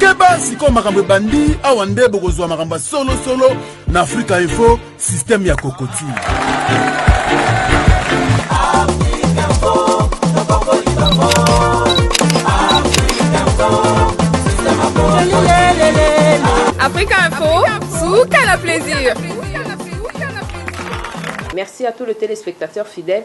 keba sikoyo makambo ebandi awa nde bokozwa makambo ya solosolo na afrika info systeme ya kokoti Africa Info, Soukala Plaisir. Merci à tous les téléspectateurs fidèles.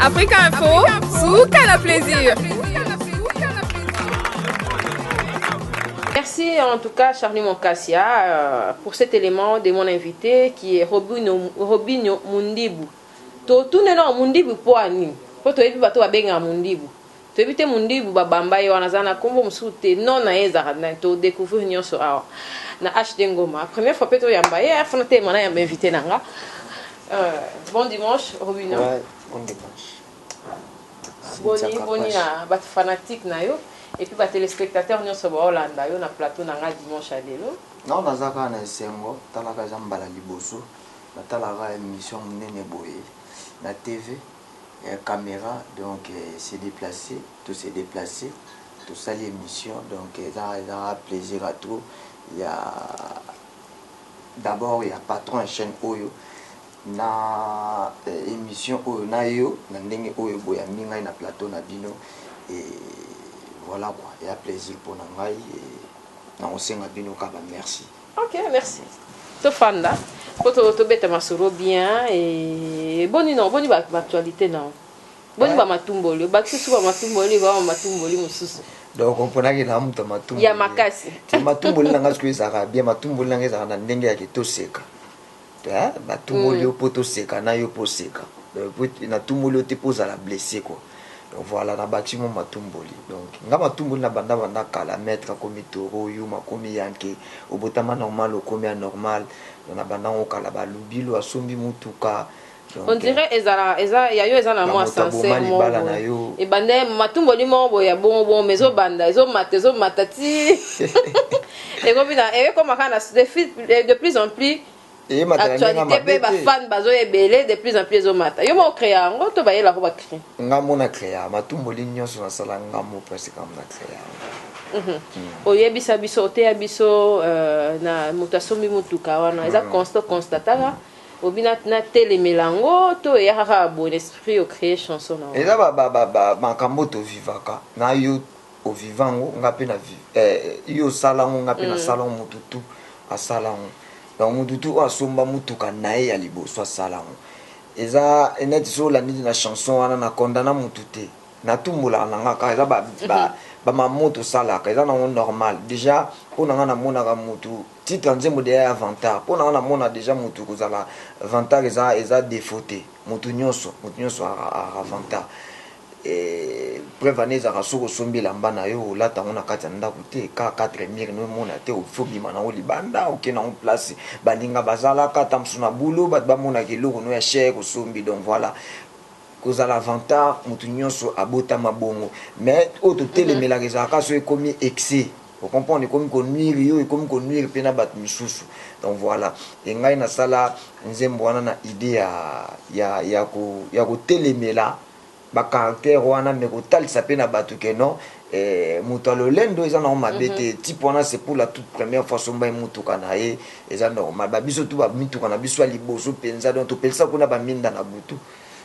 Africa Info, suka na plaisir. Merci en tout cas Charlie Moncassia euh, pour cet élément de mon invité qui est Robinho, Robinho Mundibu. To tuneno Mundibu poani. Po toyebi bato babenga Mundibu. Toyebi te mundibu ba bamba ye wana aza na kombo mususu te nom naye ezalaka nani to decouvrir nionso awa na HD ngoma première fois pe to yamba ye il faut na telema na yamba invite na nga bon dimanche robino bon dimanche boni boni na ba fanatique na yo et puis ba telespectateurs nionso ba olanda yo na plateau na nga dimanche ya lelo non naza kaka na esengo talaka eza mbala liboso na talaka emission munene boye na TV camera donc se deplace to se deplace tosali emission donc eza eza plaisir ya trop ya d'abord ya patron ya chaine oyo na emission oyo na yo na ndenge oyo boyambi ngai na plateau na bino et voila quoi eza plaisir pona ngai et nakosenga bino kaka ba merci. Ok merci tofanda po tobeta masolo bien et boni non boni ba actualité non boni ba matumboli obakisi suka matumboli ba matumboli mosusu donc oponaki na moto matumboli ya makasi matumboli na ngai soki ezalaka bien matumboli na ngai ezalaka na ndenge yake toseka Hein ba tumboli yo po to seka na yo pe oseka donc na tumboli yo te po ozala blesse quoi donc voilà na bati mwa matumboli donc nga matumboli na banda banda kala maitre akomi toro yuma akomi yanke obotama normal okomi anormal donc na banda ngo kala ba lubilo asombi mutuka on dirait ezala eza ya yo eza na mwa sense moko ebanda matumboli moko boye ya bongo bongo mais ezobanda ezomata ezomata ti ekomi na ekoma kaka na de plus en plus actualité mpe bafane bazo ebele de plus en plus ezomata yo moko créa yango to bayela ko bacré nga mona créa matumboli nyonso nasala nga mo presque kama na créa yango Mhm. oyebisa biso oteya biso euh, na moto asombi motuka wana eza mhm. constat constataka obi na na telemela ngo to eya kaka boye na esprit o cree chanson na eza ba ba ba ba makambo to vivaka na yo o viva ngo nga pe na vive eh, yo sala ngo nga pe na mm. sala ngo mutu tout asala ngo donc mutu tout asomba mutuka na ye ya liboso asala ngo eza neti so olandeli na chanson wana na condana mutu te Na tumbolaka na nga kaka eza ba ba mamou to salaka eza na ngo normal dejà po na nga na monaka mutu titre ya nzembo dejà ya vantard po na nga na mona dejà mutu ko zala vantard eza eza defaut te mutu nionso mutu nionso azalaka vantard preuve en est ezalaka soki o sombi elamba na yo o lata yango na kati ya ndaku te kaka quatre murs no emona te il faut obima na yango libanda oke na yango place baninga ba zalaka ata mosusu na boulot batu ba monaka eloko no ya cher o sombi donc voilà Kozala vantard mutu nionso abotama bongo mais oyo totelemelaka ezalaka kaka soki ekomi excès o comprendre ekomi ko nuire yo ekomi ko nuire pe na batu misusu donc voila et ngai nasala nzembo wana na idee ya ya yako yako telemela ba caractère wana mais kotalisa pe na batu que non eh mutu ya lolendo eza nango mabe te type wana c'est pour la toute première fois asombaki mutuka naye eza normal ba biso tout ba mituka na biso ya liboso penza donc topelisa kuna ba minda na butu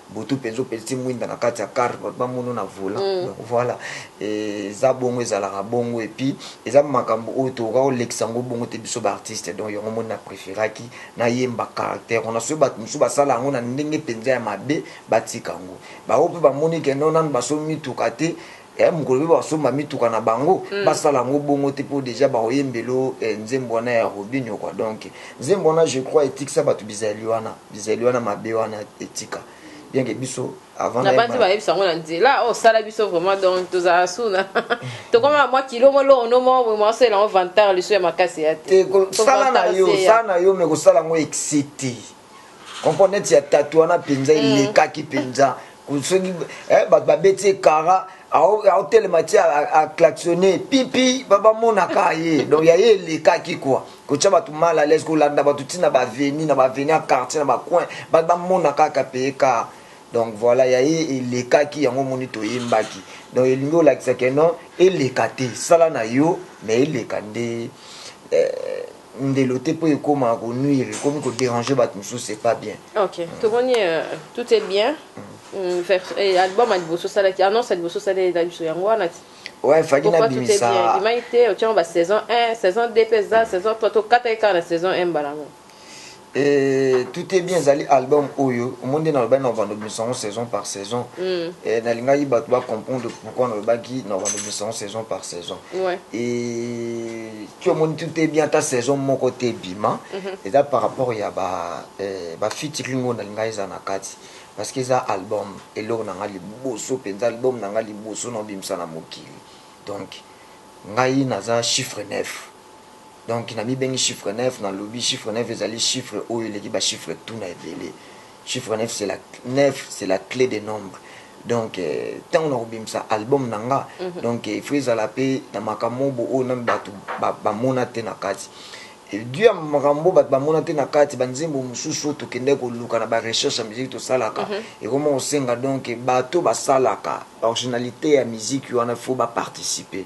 butu penza opelisi mwinda na kati ya car bato bamono na volant mm. donc voilà eza bongo ezalaka bongo epuis eza makambo oyo tokoka kolekisa yango bongo te biso baartiste donc yango moni na préféraki nayemba caractère wana soki bato mosusu basala yango na ndenge mpenza ya mabe batika yango bango mpe bamoni ke no nano basomi mituka te Eeh mokolo pe bakosomba mituka na bango basala yango bongo te po dejà bakoyembelo eh nzembo wana ya Robinho quoi donc nzembo wana je crois etikisa batu bizayeli wana bizayeli wana mabe wana etika bien que biso avant na banzi bayebisa yango na nzela oh sala biso vraiment donc tozala sous na tokoma na mwa kilo mo longo no mo boye mwa sela yango vantard lisu ya makasi ya te sala na yo sala na yo mais kosala yango excès te comprend neti ya tatu wana mpenza mm. elekaki mpenza soki eh, bato babeti ye kara aotelema ti aclaxonne pipi bamonaka ye donc ya ye elekaki kua kotya bato mal à l'aise kolanda bato ntina baveni na baveni ya quartier na bacoin bato bamona kaka peye kara donc voilà ya ye elekaki yango omoni toyembaki donc elingi olakisa ke non eleka te sala na yo mais eleka nde eh, ndelo te po ekoma ko nuire ekomi ko deranger batu mususu c'est pas bien. Ok tomoni tout est bien mm. album ya liboso osalaki annonce ya liboso osali eza biso yango wana ti ouais faki na bimisa ebimaki te otiango ba saison 1 saison 2 pe eza saison 3 tokataki kaka na saison 1 mbala yango Eeh tout est bien ezali album oyo omoni nde nalobaki na kovanda obimisa yango saison par saison eeh nalingaki batu ba comprendre pourquoi nalobaki na kovanda obimisa yango saison par saison eeh ti omoni tout est bien ata saison moko te ebima eza par rapport ya ba ba featuring oyo nalingaki ezala na kati parce que eza album eloko na ngai liboso penza album na ngai liboso na obimisa na mokili donc ngai naza chiffre neuf. Donc namibengi chiffre neuf, nalobi chiffre neuf ezali chiffre oyo eleki ba chiffres tout na ebele. Chiffre neuf c'est la neuf c'est la clé des nombres. Donc tango nakobimisa album na nga, donc il faut ezala pe na makamobo oyo nanu batu bamona te na kati. Et due ya makambo batu bamona te na kati, ba nzembo mosusu oyo tokendaki koluka na ba recherches ya musique tosalaka, ekoma kosenga donc batu oyo basalaka originalite ya musique wana il faut ba participer.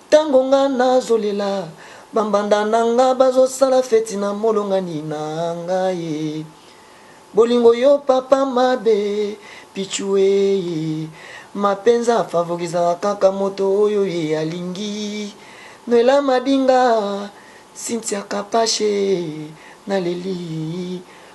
Tango nga nazo lela ba mbanda na nga bazo sala feti na molongani na nga eh Bolingo yo papa mabe pitshou eh Ma penza favorizaka kaka moto oyo ye alingi Noella madinga Cynthia kapash eh Na leli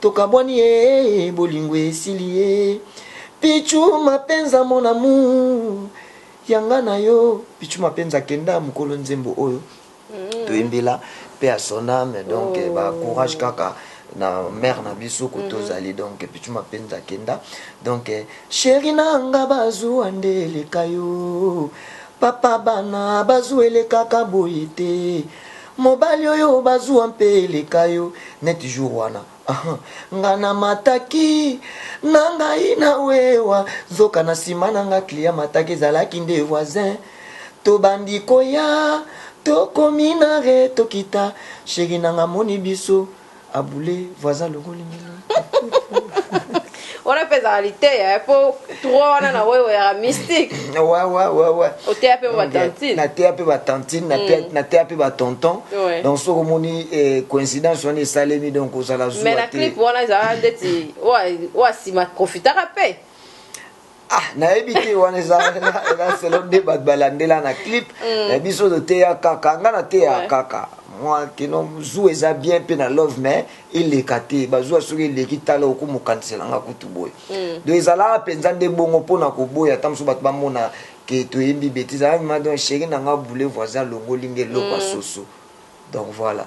Tokabwani ee bolingo esili ee Pitshou Mapenza mon amour ya nga na yo Pitshou Mapenza akenda mokolo nzembo oyo toyembela paix à son âme donc oh. ba courage kaka na mère na biso ko mhm. tozali donc Pitshou Mapenza akenda donc chéri na nga bazuwa nde eleka yo papa bana bazuwa elekaka boye te Mobali oyo ba zuwa mpe eleka yo neti jour wana ahah Nga na mataki na ngaï na wewa Nzoka na sima na nga client amataki Ezalaki nde voisin To bandi ko ya To komi na re to kita Cherie na nga amoni biso A boule voisin alongoli mino. wana mpe ezalaka liteya eh, mpo trois wana na oyo oyaka mystique oteya mpe batantine nateya mpe batantine nateya mpe batonton donc soki omoni eh, coïncidence wana esalemi donc ozala zuwa te mais na clip wana ezalaka ndeti oyo asima profitaka mpe Ah nayebi te wana eza eza selon nde bato balandela na clip mais biso toteya kaka nga nateya Ouais. kaka mwa kino zuwa eza bien mpe na love mais eleka te bazuwa soki eleki tala okomokanisela nga kutu boye donc ezalaka mpenza nde bongo mpo na koboya ata mosusu bato bamona ke toyembi betise ah madon sheri na nga boule voisin alongoli nga eloko ya soso Donc voila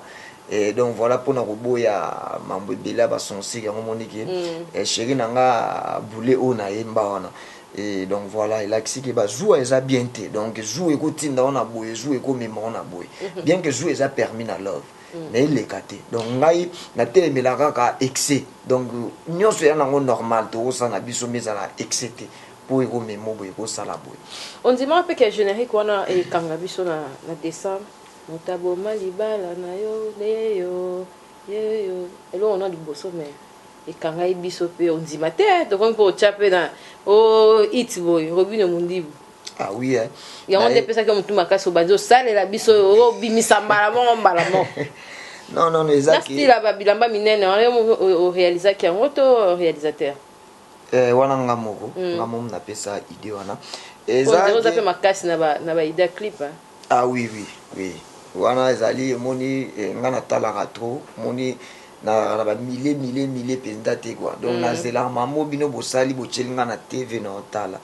eh, donc voila pona koboya mambo ebele ya ba censure yango moni ke eh, cheri na nga bule oyo na yemba wana eh, donc voila elakisi ke ba zuwa eza bien te donc zuwa ekotinda yo na boye zuwa ekomema yo na boye bien ke zuwa eza permis na love mais eleka te donc ngai natelemela kaka excès donc nyonso eya nango normal tokosala na biso mais ezala excès te mpo ekomema yo boye ekosala boye ondimaka mpe ke generique wana ekanga biso na, na décembre Moto aboma libala na yo yeyo yeyo eloko na liboso me ekangai biso pe ondima te tokomi pe otya pe na o it boye robino mondibu Ah oui, hein. yango nde epesaki yo motu makasi obandi osalela biso oyo obimisa mbala moko mbala moko non non eza na style ya babilamba minene wana yo moko orealizaki yango to realisateur eh, wana nga moko mm. nga mom napesa idée wana eza pe makasi na ba na ba idée clip hein? Ah oui oui oui wana ezali omoni nga na talaka trop omoni nalaka na ba mile mile mile penza te quoi donc na zelaka makambo oyo bino bosali botieli nga na TV na otala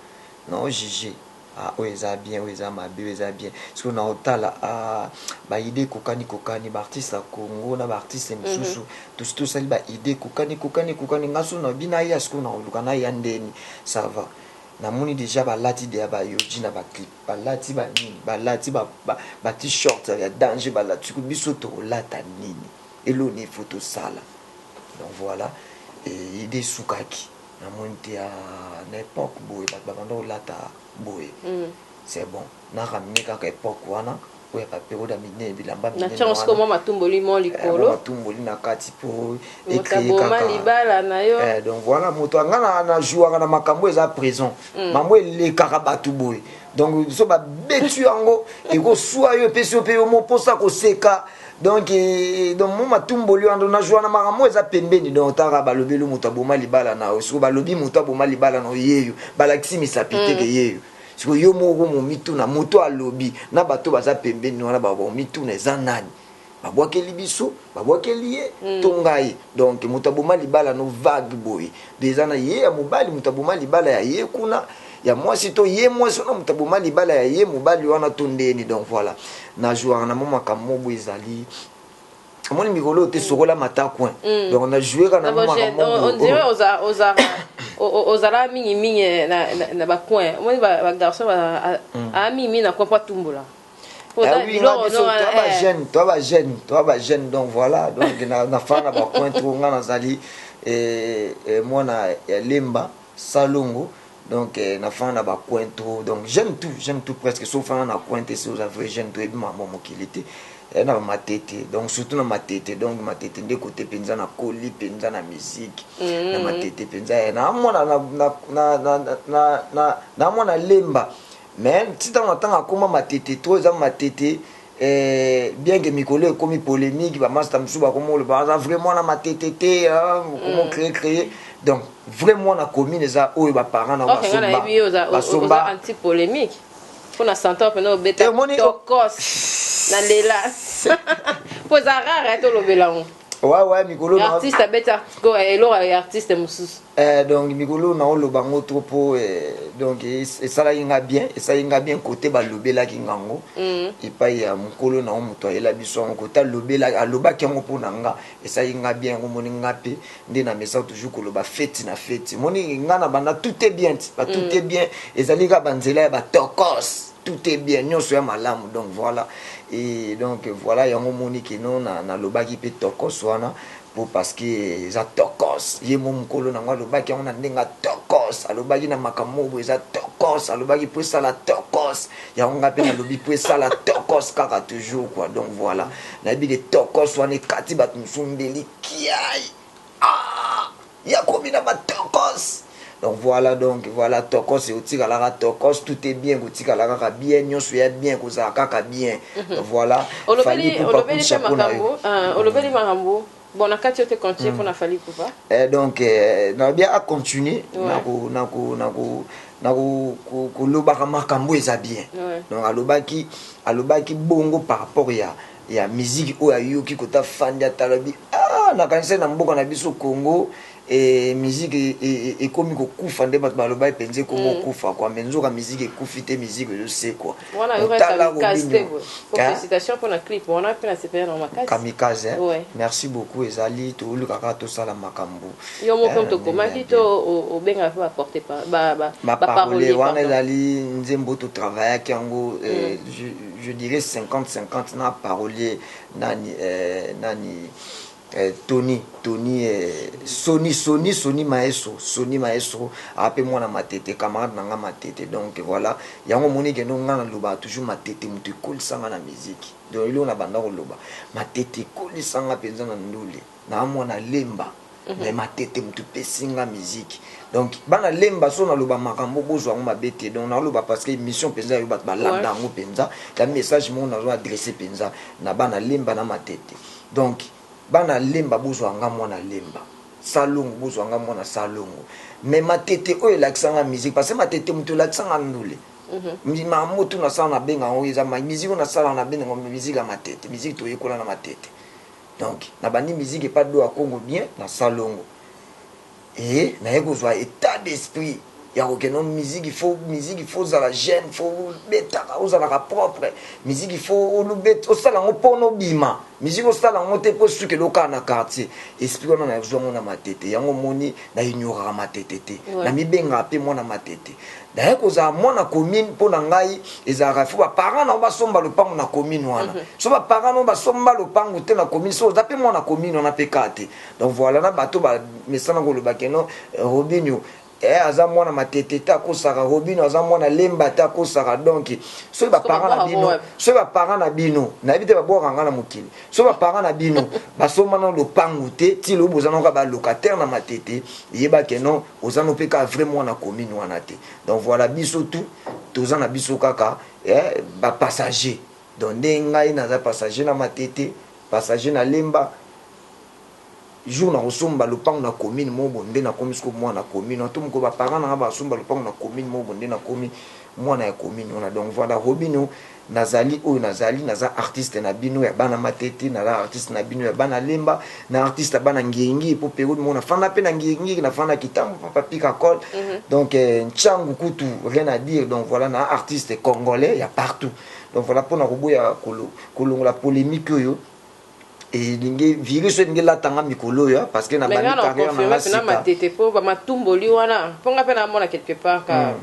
na o juger ah oyo eza bien oyo eza mabe oyo eza bien sikoyo na otala ah ba idee ekokani ekokani ba artistes ya Congo na ba artistes misusu tosi tosali ba idee ekokani ekokani ekokani nga soki nalobi naya sikoyo nakoluka naya ndeni ça va namoni dejà balati dejà ba yohji na ba clip Balati ba nini balati ba ba t-shirt ya danger balati ko biso toko lata nini eloko nini faut tosala donc voila et idee esukaki na moni te aah na epoque boye batu ba banda kolata boye c'est bon na raminer kaka epoque wana oyo ya baperode ya minene bilamba minenatyango siko mwa matumboli mo eh, likolo matumboli na kati mpo ekreyekaka libala na yo eh, donc voilà moto anga na jouaka na makambo eza prison mm. mambo elekaka bato boye donc biso babeti yango ekoswa yo epesi yo mpe yo moposa koseka donc eh, donc mo matumboli wana na joana makambo eza pembeni donc tanga balobeli moto aboma libala na yo soki balobi moto aboma libala na yo yeyo balakisi misapi teke mm. yeyo Sikoyo yo moko okomi omituna moto oyo alobi na bato baza pembeni wana bakomituna eza nani babwakeli biso babwakeli ye mm. to ngai donc moto aboma libala no vague boye eza na ye ya mobali moto aboma libala ya ye kuna ya mwasi to ye mwasi wana moto aboma libala ya ye mobali wana to ndeni donc voilà na jouaka na mwa makambo mobo ezali omoni mikolo oyo te mm. sokola mata coin mm. donc na joue ka na makamboozala oh. mingi mingi eh, na bacoin omoni bagarçon aa mm. ah, mingi mingi na coin po atumbola bajeune toi bajeune toi bajeune donc voilà donc nafana na bacoin to nga nazali eh, eh, mwana ya lemba Salongo donc na fana na ba coin trop donc j'aime tout j'aime tout presque so fana na coin te si oza vrai jeune to yebi makambo ya mokili te eh, na ba matete donc surtout na matete donc matete nde kote penza na koli penza na musique mm -hmm. na matete penza eh, na mwana na na na na na, na, na mwana lemba mais ti ntango na ntango akoma matete trop eza matete Eeh bien que mikolo ekomi polemique ba masta mususu ba komo loba aza vrai mwana matete te hein komo mm. créer créer donc vrai mwana commune eza oyo ba parents na ba somba ba somba anti polemique pona santor pena obeta tokos na lela po eza rare to lobela ngo Ouais, ouais, mikolo na artiste abeti article eh, eloko ya artiste mosusu eh, donc mikolo na oloba ngo trop po eh, donc esalaki nga bien esalaki nga bien kote balobelaki nga ngo mm. epai ya mokolo na ngo moto ayela biso yango kote alobelaki alobaki yango mpo na nga esalaki nga bien yango moni nga mpe nde na mesa toujours koloba feti na feti moni nga na banda tout est bien ba tout mm. est bien ezali kaka banzela ya batokos tout est bien nionso y'a malamu donc voila et donc voila yango omoni que non na na lobaki pe tokoss wana po parce que eza tokoss ye mom mukolo nango alobaki yango na ndenge ya tokoss alobaki na makambo moko boye eza tokoss alobaki po esala tokoss yango nga pe na lobi po esala tokoss kaka toujours quoi donc voila na yebi que tokoss wana ekati batu mosusu mbeli kiaii aah ya kobina ba tokos donc voila donc voila tokos otikalaka tokos tout est bien kotikala kaka bien nionso ya bien kozala kaka bien donc voila fali olobeli ipupa olobeli pe kusa mpo na yo makambo ah, olobeli makambo bon na kati yo te continue mpo na fali kupa Eh, donc eh, nalobi a continue Ouais. na ko- na ko- na ko- na ko- ko- kolobaka makambo eza bien Ouais. donc alobaki alobaki bongo par rapport ya ya miziki oyo ayoki kota afandi atala alobi aah nakanisaki na mboka na biso Congo eh, miziki e, e, ekomi kokufa nde bato balobaki mpenza ekomi mm. kokufa kwa me nzoka miziki ekufi te miziki ezosekwa otala robinio kamikaze eh? merci beaucoup ezali tooluka kaka tosala makambo yo moko eh, tokomaki to obengaka mpe baporte baparole wana ezali nzembo totravaillaki yango eh, mm. je dirais 50 50 na parolier nani eh, nani eh, Tony Tony eh, Sony Sony Sony Maestro Sony Maestro ape mwana matete camarade na nga matete donc voilà yango moni kendo nga na loba toujours matete mutu ekolisa nga na musique donc eloko na banda koloba matete ekolisa nga penza na ndule Naza mwana lemba mais matete mutu pesi nga musique donc bana lemba soki na loba makambo bozua yango mabe te donc nazo loba parce que emission penza yo batu ba landa yango penza eza message moko nazo adresse penza na bana lemba na matete donc bana lemba bozua nga mwana lemba salongo bozua nga mwana salongo mais matete oyo elakisa nga musique parce que matete mutu elakisa nga ndule makambo oyo tu na sala na benga yango eza musique oyo na sala na benga yango musique ya matete musique toyekola na matete Donc na bandi musique epa doa kongo bien na salongo et naye kozua etat d'esprit ya kokende donc musique il faut musique il faut ozala jeune il faut obetaka ozalaka propre musique il faut olobet osala yango pona obima musique osala yango te po esukela okaka na quartier esprit wana nazua yango na matete yango omoni na ignoraka matete te na mibengaka pe mwana matete D'ailleurs kozala mwana commune mpo na ngai ezalaka il faut ba parents na yo basomba lopango na commune wana mhm. so ba parents na yo basomba lopango te na commune so oza mpe mwana commune wana mpe kaka te donc voilà na bato bamesana koloba keno eh, robinio eh, aza mwana matete te akosaka robino aza mwana lemba te akosaka donc soki baparent na bino soki baparent na bino nayebi te babwaka nga na mokili soki baparent na bino basombana lopangu te ti lobo oza naka balocataire na matete yebake non Oza no pe kaka vrai mwana commune wana te donc voila biso tout toza na biso kaka eh, ba passagers donc nde ngai naza passager na matete passager na lemba jour na kosomba lopango na commune mobo nde na komi siko mwana commune wana to mokolo ba parents na nga ba somba lopango na commune mobo nde na komi mwana ya commune wana donc voila robino Nazali oyo nazali, naza artiste na bino ya bana matete, naza artiste na bino ya bana lemba, na artiste ya bana ngie ngie, po periode moko nafanda pe na ngie ngie, nafanda kitambo pa papy kakol, donc tshangu kutu rien à dire, donc voila na artiste congolais ya partout, donc voila po na koboya kolongola polemique oyo elingi virus oyo elingi elata nga mikolo oyo hein, parce que na bandi carrière na nga sika. Mais nga na confirmer pena matete po ba matumboli wana po nga pe na mona quelque part ka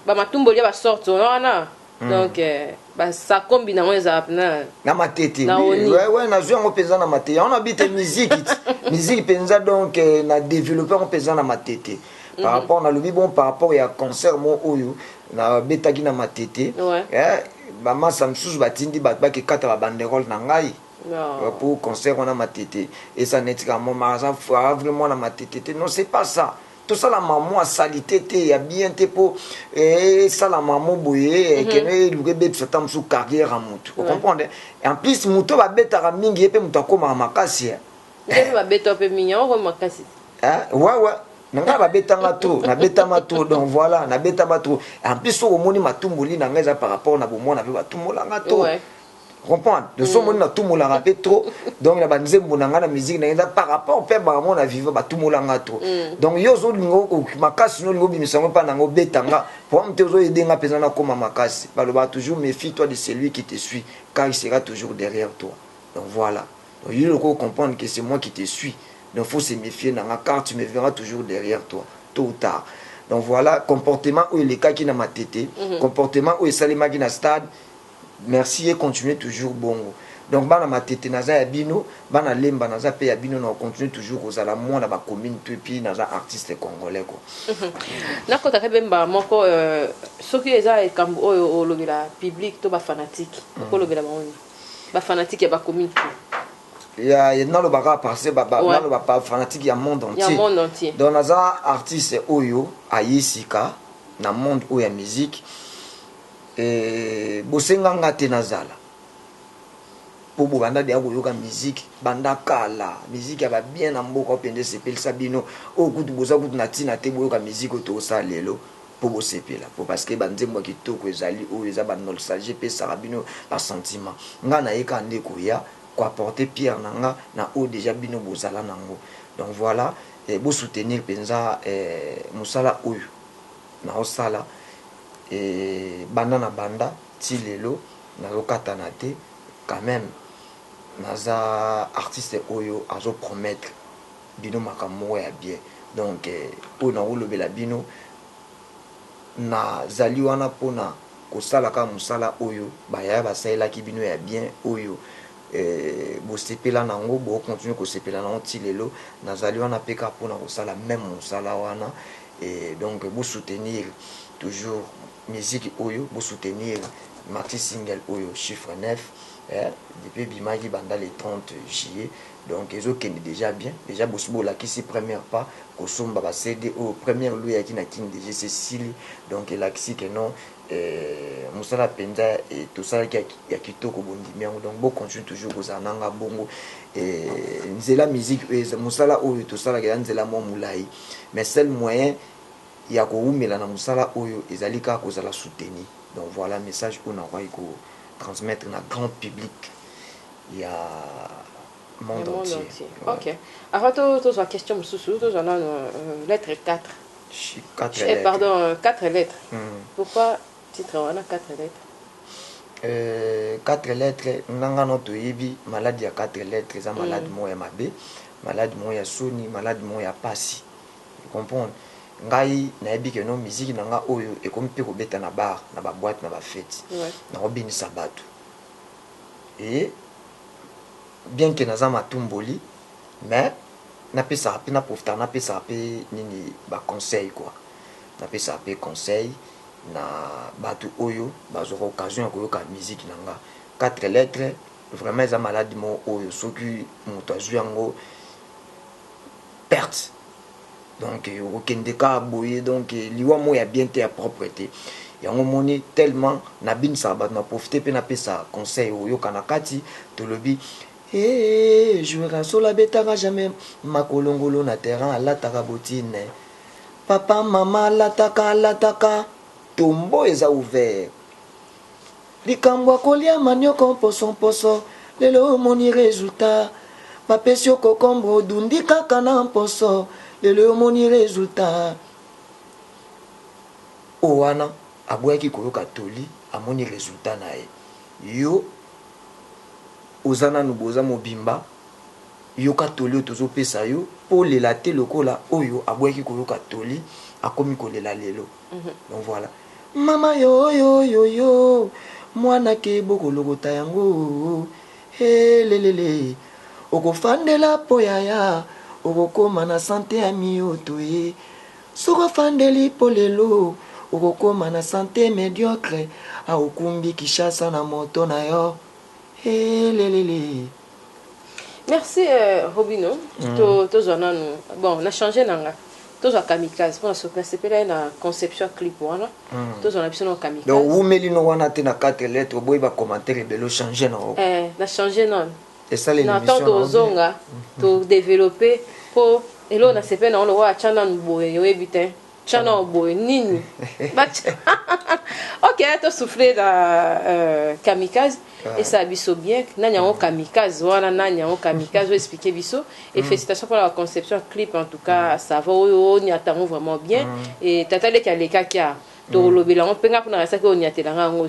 ba matumboli ya ba sorte wana. donc eh, ba sakombi nango ezala pna na matete na oni ouais, ouais, nazwi yango mpenza na matete yango nabi te miziki miziki mpenza donc eh, na développe yango mpenza na matete par mhm. rapport nalobi bon par rapport ya concert mo oyo nabetaki na matete ouais. eh, bamasa mosusu batindi bato bakekata babanderole na ngai euh, pour concert wana matete esa neti ka momaraza vraiment na matete te non c'est pas ça tosala mamo ya salite te ya bien te mpo eh, esala mamo boye eh, mhm. keno eluka ebebisa ta mosusu carrière ya motu ocomprendre en plus moto oyo babetaka mingi ye mpe moto akomaka makasi eh. ndepe babeta mpe mingi yango okomi makasi wawa na ngai babetanga trop nabetama trop donc voilà nabetama trop en plus soki omoni matumboli na ngai eza par rapport na bomwana mpe batumbolanga trop comprendre de son moni na tumolaka pe trop donc na ba nzembo na nga na musique na nga par rapport pe ba mona viva ba tumola nga trop donc yo zo lingo makasi no lingo bimisa ngo pa na ngo beta nga pour mte zo aider nga peza na koma makasi ba loba toujours méfie toi de celui qui te suit car il sera toujours derrière toi donc voilà donc yo loko comprendre que c'est moi qui te suit donc faut se méfier na nga car tu me verras toujours derrière toi tôt ou tard donc voilà comportement oyo elekaki na matete comportement oyo esalemaki na stade Merci yy continuer toujours bongo donc bana matete naza ya bino bana lemba naza pe ya bino nako continuer toujours kozala mwana ba commune tout epuis naza artiste congolais ko Nakota pe mbala moko soki eza likambu oyo olobela public to ba fanatique oko lobela bango nini ba fanatique yaba commune tout ya naloba kaka parce ba naloba ba fanatique ya monde entier donc naza artiste oyo aye sika na monde oyo ya musique. Eeh bosenga nga te nazala po bobanda dejà koyoka musique banda kala musique ya ba bien na mboka oyo penza esepelisa bino oyo kutu boza kutu na tina te boyoka musique oyo tozosala lelo po bosepela po parce que ba nzembo ya kitoko ezali oyo eza ba nolstalgie epesaka bino ba sentiment nga naye kaka nde koya ko apporter pierre na nga na oyo dejà bino bozala nango donc voila bo soutenir penza musala oyo nazosala. banda na banda ti lelo nazo katana te quand meme naza artiste oyo azo promettre bino makambo moko ya bien donc oyo nako lobela bino na zali wana pona ko sala kaka musala oyo ba yaya ba salelaki bino ya bien oyo bo sepela nango bo continuer ko sepela nango ti lelo nazali wana pe kaka pona ko sala meme musala wana. Et donc bo soutenir toujours musique oyo bo soutenir maxi single oyo chiffre neuf eh depuis ebimaki banda le 30 juillet donc ezo kende dejà bien dejà bosi bo lakisi première pas ko somba ba CD oyo première loue eyaki na kin dejà esi esili donc elakisi que non eh musala penza eh to salaki ya kitoko bo ndimi yango donc bo continue toujours ko zala na nga bongo eh nzela musique oyo musala oyo to salaka eza nzela mwa mulayi mais seul moyen ya ko wumela na musala oyo ezali kaka kozala soutenue donc voila message oyo nakokaki ko transmettre na grand public ya monde entier ok avant to tozwa question mususu tozwa nanu lettre 4 4 lettres pardon 4 lettres pourquoi Titre wana quatre lettres. Euh, quatre lettres, nga nga no toyebi malade ya quatre lettres eza malade mm. moko ya mabe, malade moko ya soni, malade moko ya pasi. Vous comprenez? ngai nayebi ke no miziki na nga oyo ekomi mpe kobeta na bar na baboite na bafeti ouais. nakobenisa bato e bien ke naza matumboli mais napesaka mpe naprofitaka napesaka mpe nini baconseil kua napesaka mpe conseil na batu oyo bazwaka occasion ya koyoka musique na nga quatre lettres vraiment eza malade moko oyo soki mutu azwi yango perte donc okokende ka boye donc liwa moko ya bien te ya propre te yango omoni tellement nabinisaka bato na profite mpe napesa conseil oyoka na kati tolobi Hey, jouera sola betaka jamais makolongolo na terrain alataka botine Papa maman alataka alataka tombeau eza ouvert likambo ya kolia manioko mposo mposo lelo omoni resultat bapesi yo cocombre odundi kaka na mposo lelo omoni resultat oyo wana aboyaki koyoka toli amoni resultat na ye yo oza nanu boza mobimba Yoka toli oyo tozo pesa yo po olela te lokola oyo aboyaki koyoka toli akomi kolela lelo donc voila mama yoyoyoyo muana ke bokolokota yango he lelele okofandela po yaya okokoma na sante ya miyoto ye soki ofandeli po lelo okokoma na sante mediocre aokumbi kishasa na moto na yo he lelele Merci euh, Robino. Mm. To tozwa nanu. Bon, na changer nanga. Tozwa kamikaze pona so na sepela ye na conception clip wana. Mm. Tozwa na biso na kamikaze. Donc wumeli no wana te na 4 lettres boye ba commentaire ebelo changer na oko. Eh, na changer nanu. Esala émission. Na temps tozonga mm. to développer po elo na sepela na olo wa chana nuboye yoyebi te. Tya nao boye nini Ok to souffler na euh, kamikaze ah. esa biso bien nani yango kamikaze wana nani yango kamikaze oyo expliquer biso et mm. félicitations pour la conception clip en tout cas mm. ça va oyo onyata yango vraiment bien mm. et tata leki alekaki a tokolobela yango mpe ngai kuna nasaki onyatela ngai yango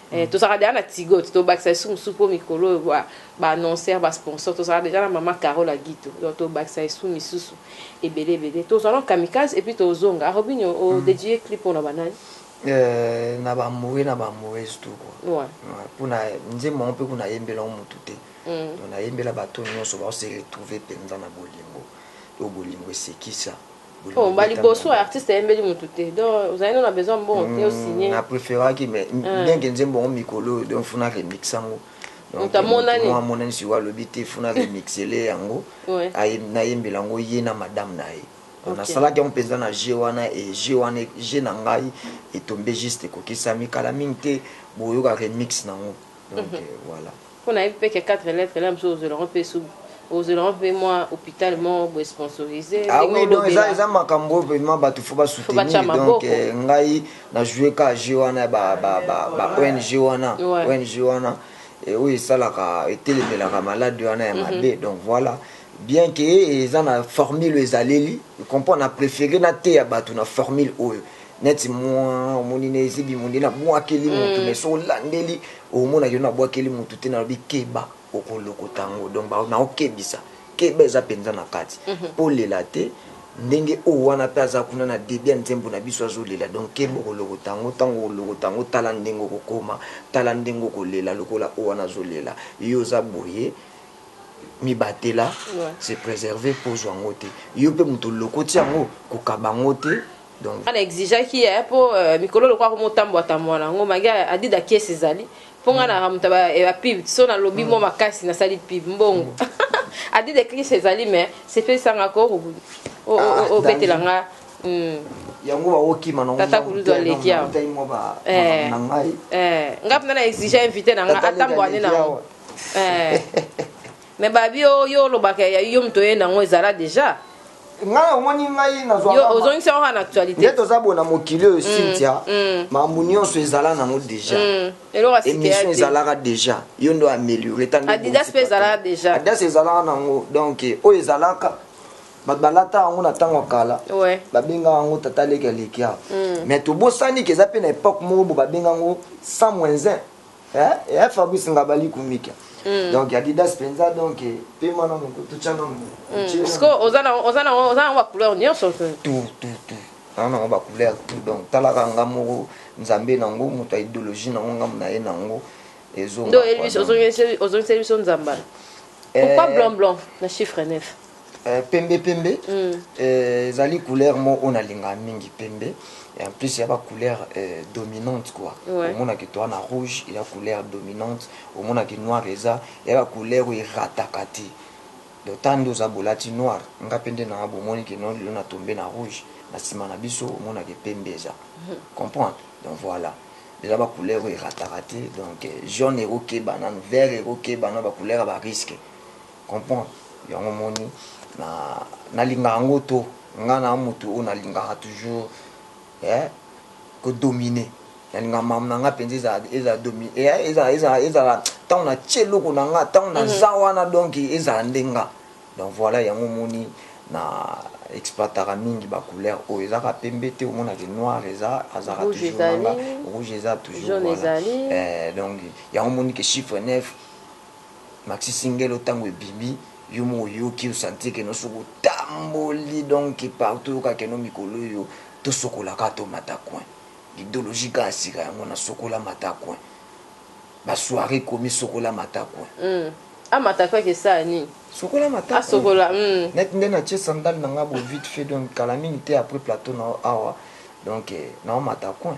Eh, tozalaka deja na tigo te tobakisa lisusu mosusu mpo mikolo oyo baannonceur ba basponsor tozalaka deja na mama carole agito donc tobakisa lisusu misusu ebele ebele tozwa no kamikaze epuis tozonga robinio ah, odedie mm. clip mpona banani eh, na bamoure na bamourese tout kua mpona nzembo yango mpe kuna ayembela yango motu te mm. donc nayembela bato nyonso baose retrouve mpenza na bolingo oyo bolingo esekisa Bolingo Bon, bali ebotama. boso artiste ayembeli mutu te. Donc ozali no na besoin mbongo te o signer. na preferaki mais bien que nzembo yango mikolo oyo donc funa remix yango Donc, Moto amonani. moto moko amonani sikoyo alobi te funa remixele yango Ouais. aye- nayembela yango ye na madame na ye Donc, Ok. nasalaki yango mpenza na jeu wana e jeu wana e- jeu na ngai etombe juste ekokisami kala mingi te boyoka remix na yango donc euh, voilà mpo nayebi mpe ke 4 lettre la mosusu ozwela yango mpe su ozwela yango mpe mwa hôpital moko boye sponsorise ah oui donc eza eza makambo oyo vraiment bato fo basoutenir donc euh, ngai na joue ka jeu wana ba ba ba ba ong wana ong wana eh, oyo esalaka etelemelaka malade wana ya mhm. mabe donc voilà bien ke eza na formule ezaleli comprend na préféré nateya bato na formule oyo neti mua omoni na ezibi monde na buakeli mutu mais soki olandeli omona ke na buakeli mutu te nalobi keba okolokota yango donc naokebisa keba eza penza na kati pe olela te ndenge oyo wana pe aza kuna na debut ya nzembo na biso azolela donc keba okolokota yango tango okolokota yango tala ndenge okokoma tala ndenge okolela lokola oyo wana azolela yo oza boye mibatela se preserver po ozua yango te yo pe mutu olokoti yango kokaba yango te. Donc. Nga na exigeaki eh, po euh, mikolo lokola komi otambua tambua na ngo magi adida kiesi ezali po nga na moto ba, eh, ba pub so na lobi mwa makasi na sali pub mbongo adida kiesi ezali mais sepelisa nga ko o- o- Ah, o- obetela danger. nga mm. yango baokima nango Tata Kulutu aleki awa. tai mwa ba- Eh. na ngai eh, nga mpenza na exige invité na nga Tata Leki atambua nde na aleki yango awa. eh. Mais babi yo yo olobaka ya yo mutu oye nango ezala deja ngai omoni ngai nazwaozongisa yango na actualité nde toza bona mokili oyo mm, cynthia mm. makambo nyonso ezala nango deja mm. émission ezalaka deja yo ndo améliorer adidas mpe ezalaka deja adidas ezalaka nango donc oyo ezalaka bato balata yango na ntango ya kala babengaka yango tata leki aleki awa mais tobosani ke eza mpe na epoque moko bo babengaka yango sans moins 1 eh eh Fabrice Ngabali Kumika mm. donc Adidas penza donc eh, pema na moko tutsa na moko mm. parce que oza na oza na oza na ba couleur nyonso tout tout tout na na ba couleur tout donc talaka nga moko nzambe na ngo moto ya idéologie na ngo nga na ye na ngo ezo ndo Elvis ozongisi ozongisi biso nzamba eh. pourquoi blanc blanc na chiffre 9 Eh, pembe pembe mm. eh, ezali couleur mo oyo nalinga mingi pembe et en plus ya ba couleur eh, dominante quoi ouais. omonaki toi na rouge ya couleur dominante omonaki noir eza ya ba couleur oyo erataka te donc ta nde oza bolati noir nga mpe nde naa bomoni kino lelo na tombe na rouge na nsima na biso omonaki pembe eza mm. comprendre donc voilà eza ba couleur oyo erataka te donc eh, jaune ekokeba nanu vert ekokeba na ba couleur ya ba risque comprend yango omoni na nalinga yango to nga na mutu oyo nalingaka toujours eh ko domine nalinga mam na nga penza eza eza domi eh, eza eza eza tango na tie loko na nga tango na mhm. za wana donc eza ndenga donc voilà yango omoni na exploitaka mingi ba couleur oyo eza ka pembe te omonaki noir eza azaka toujours nanga rouge eza toujours voilà eh donc yango omoni ke chiffre 9 Maxi singelo tangu ebimi yo moko oyoki o sentir que non soki otamboli donc partout oyoka que non mikolo oyo to sokola kaka to mata coin l'idologie kaka sika yango na sokola mata coin ba soiree ekomi sokola mata coin Hum amata coin ke esala nini? Sokola mata coin asokola hum. Net nde na tie sandale na nga bo vite fait donc kala mingi te après plateau na yo awa donc nao mata coin.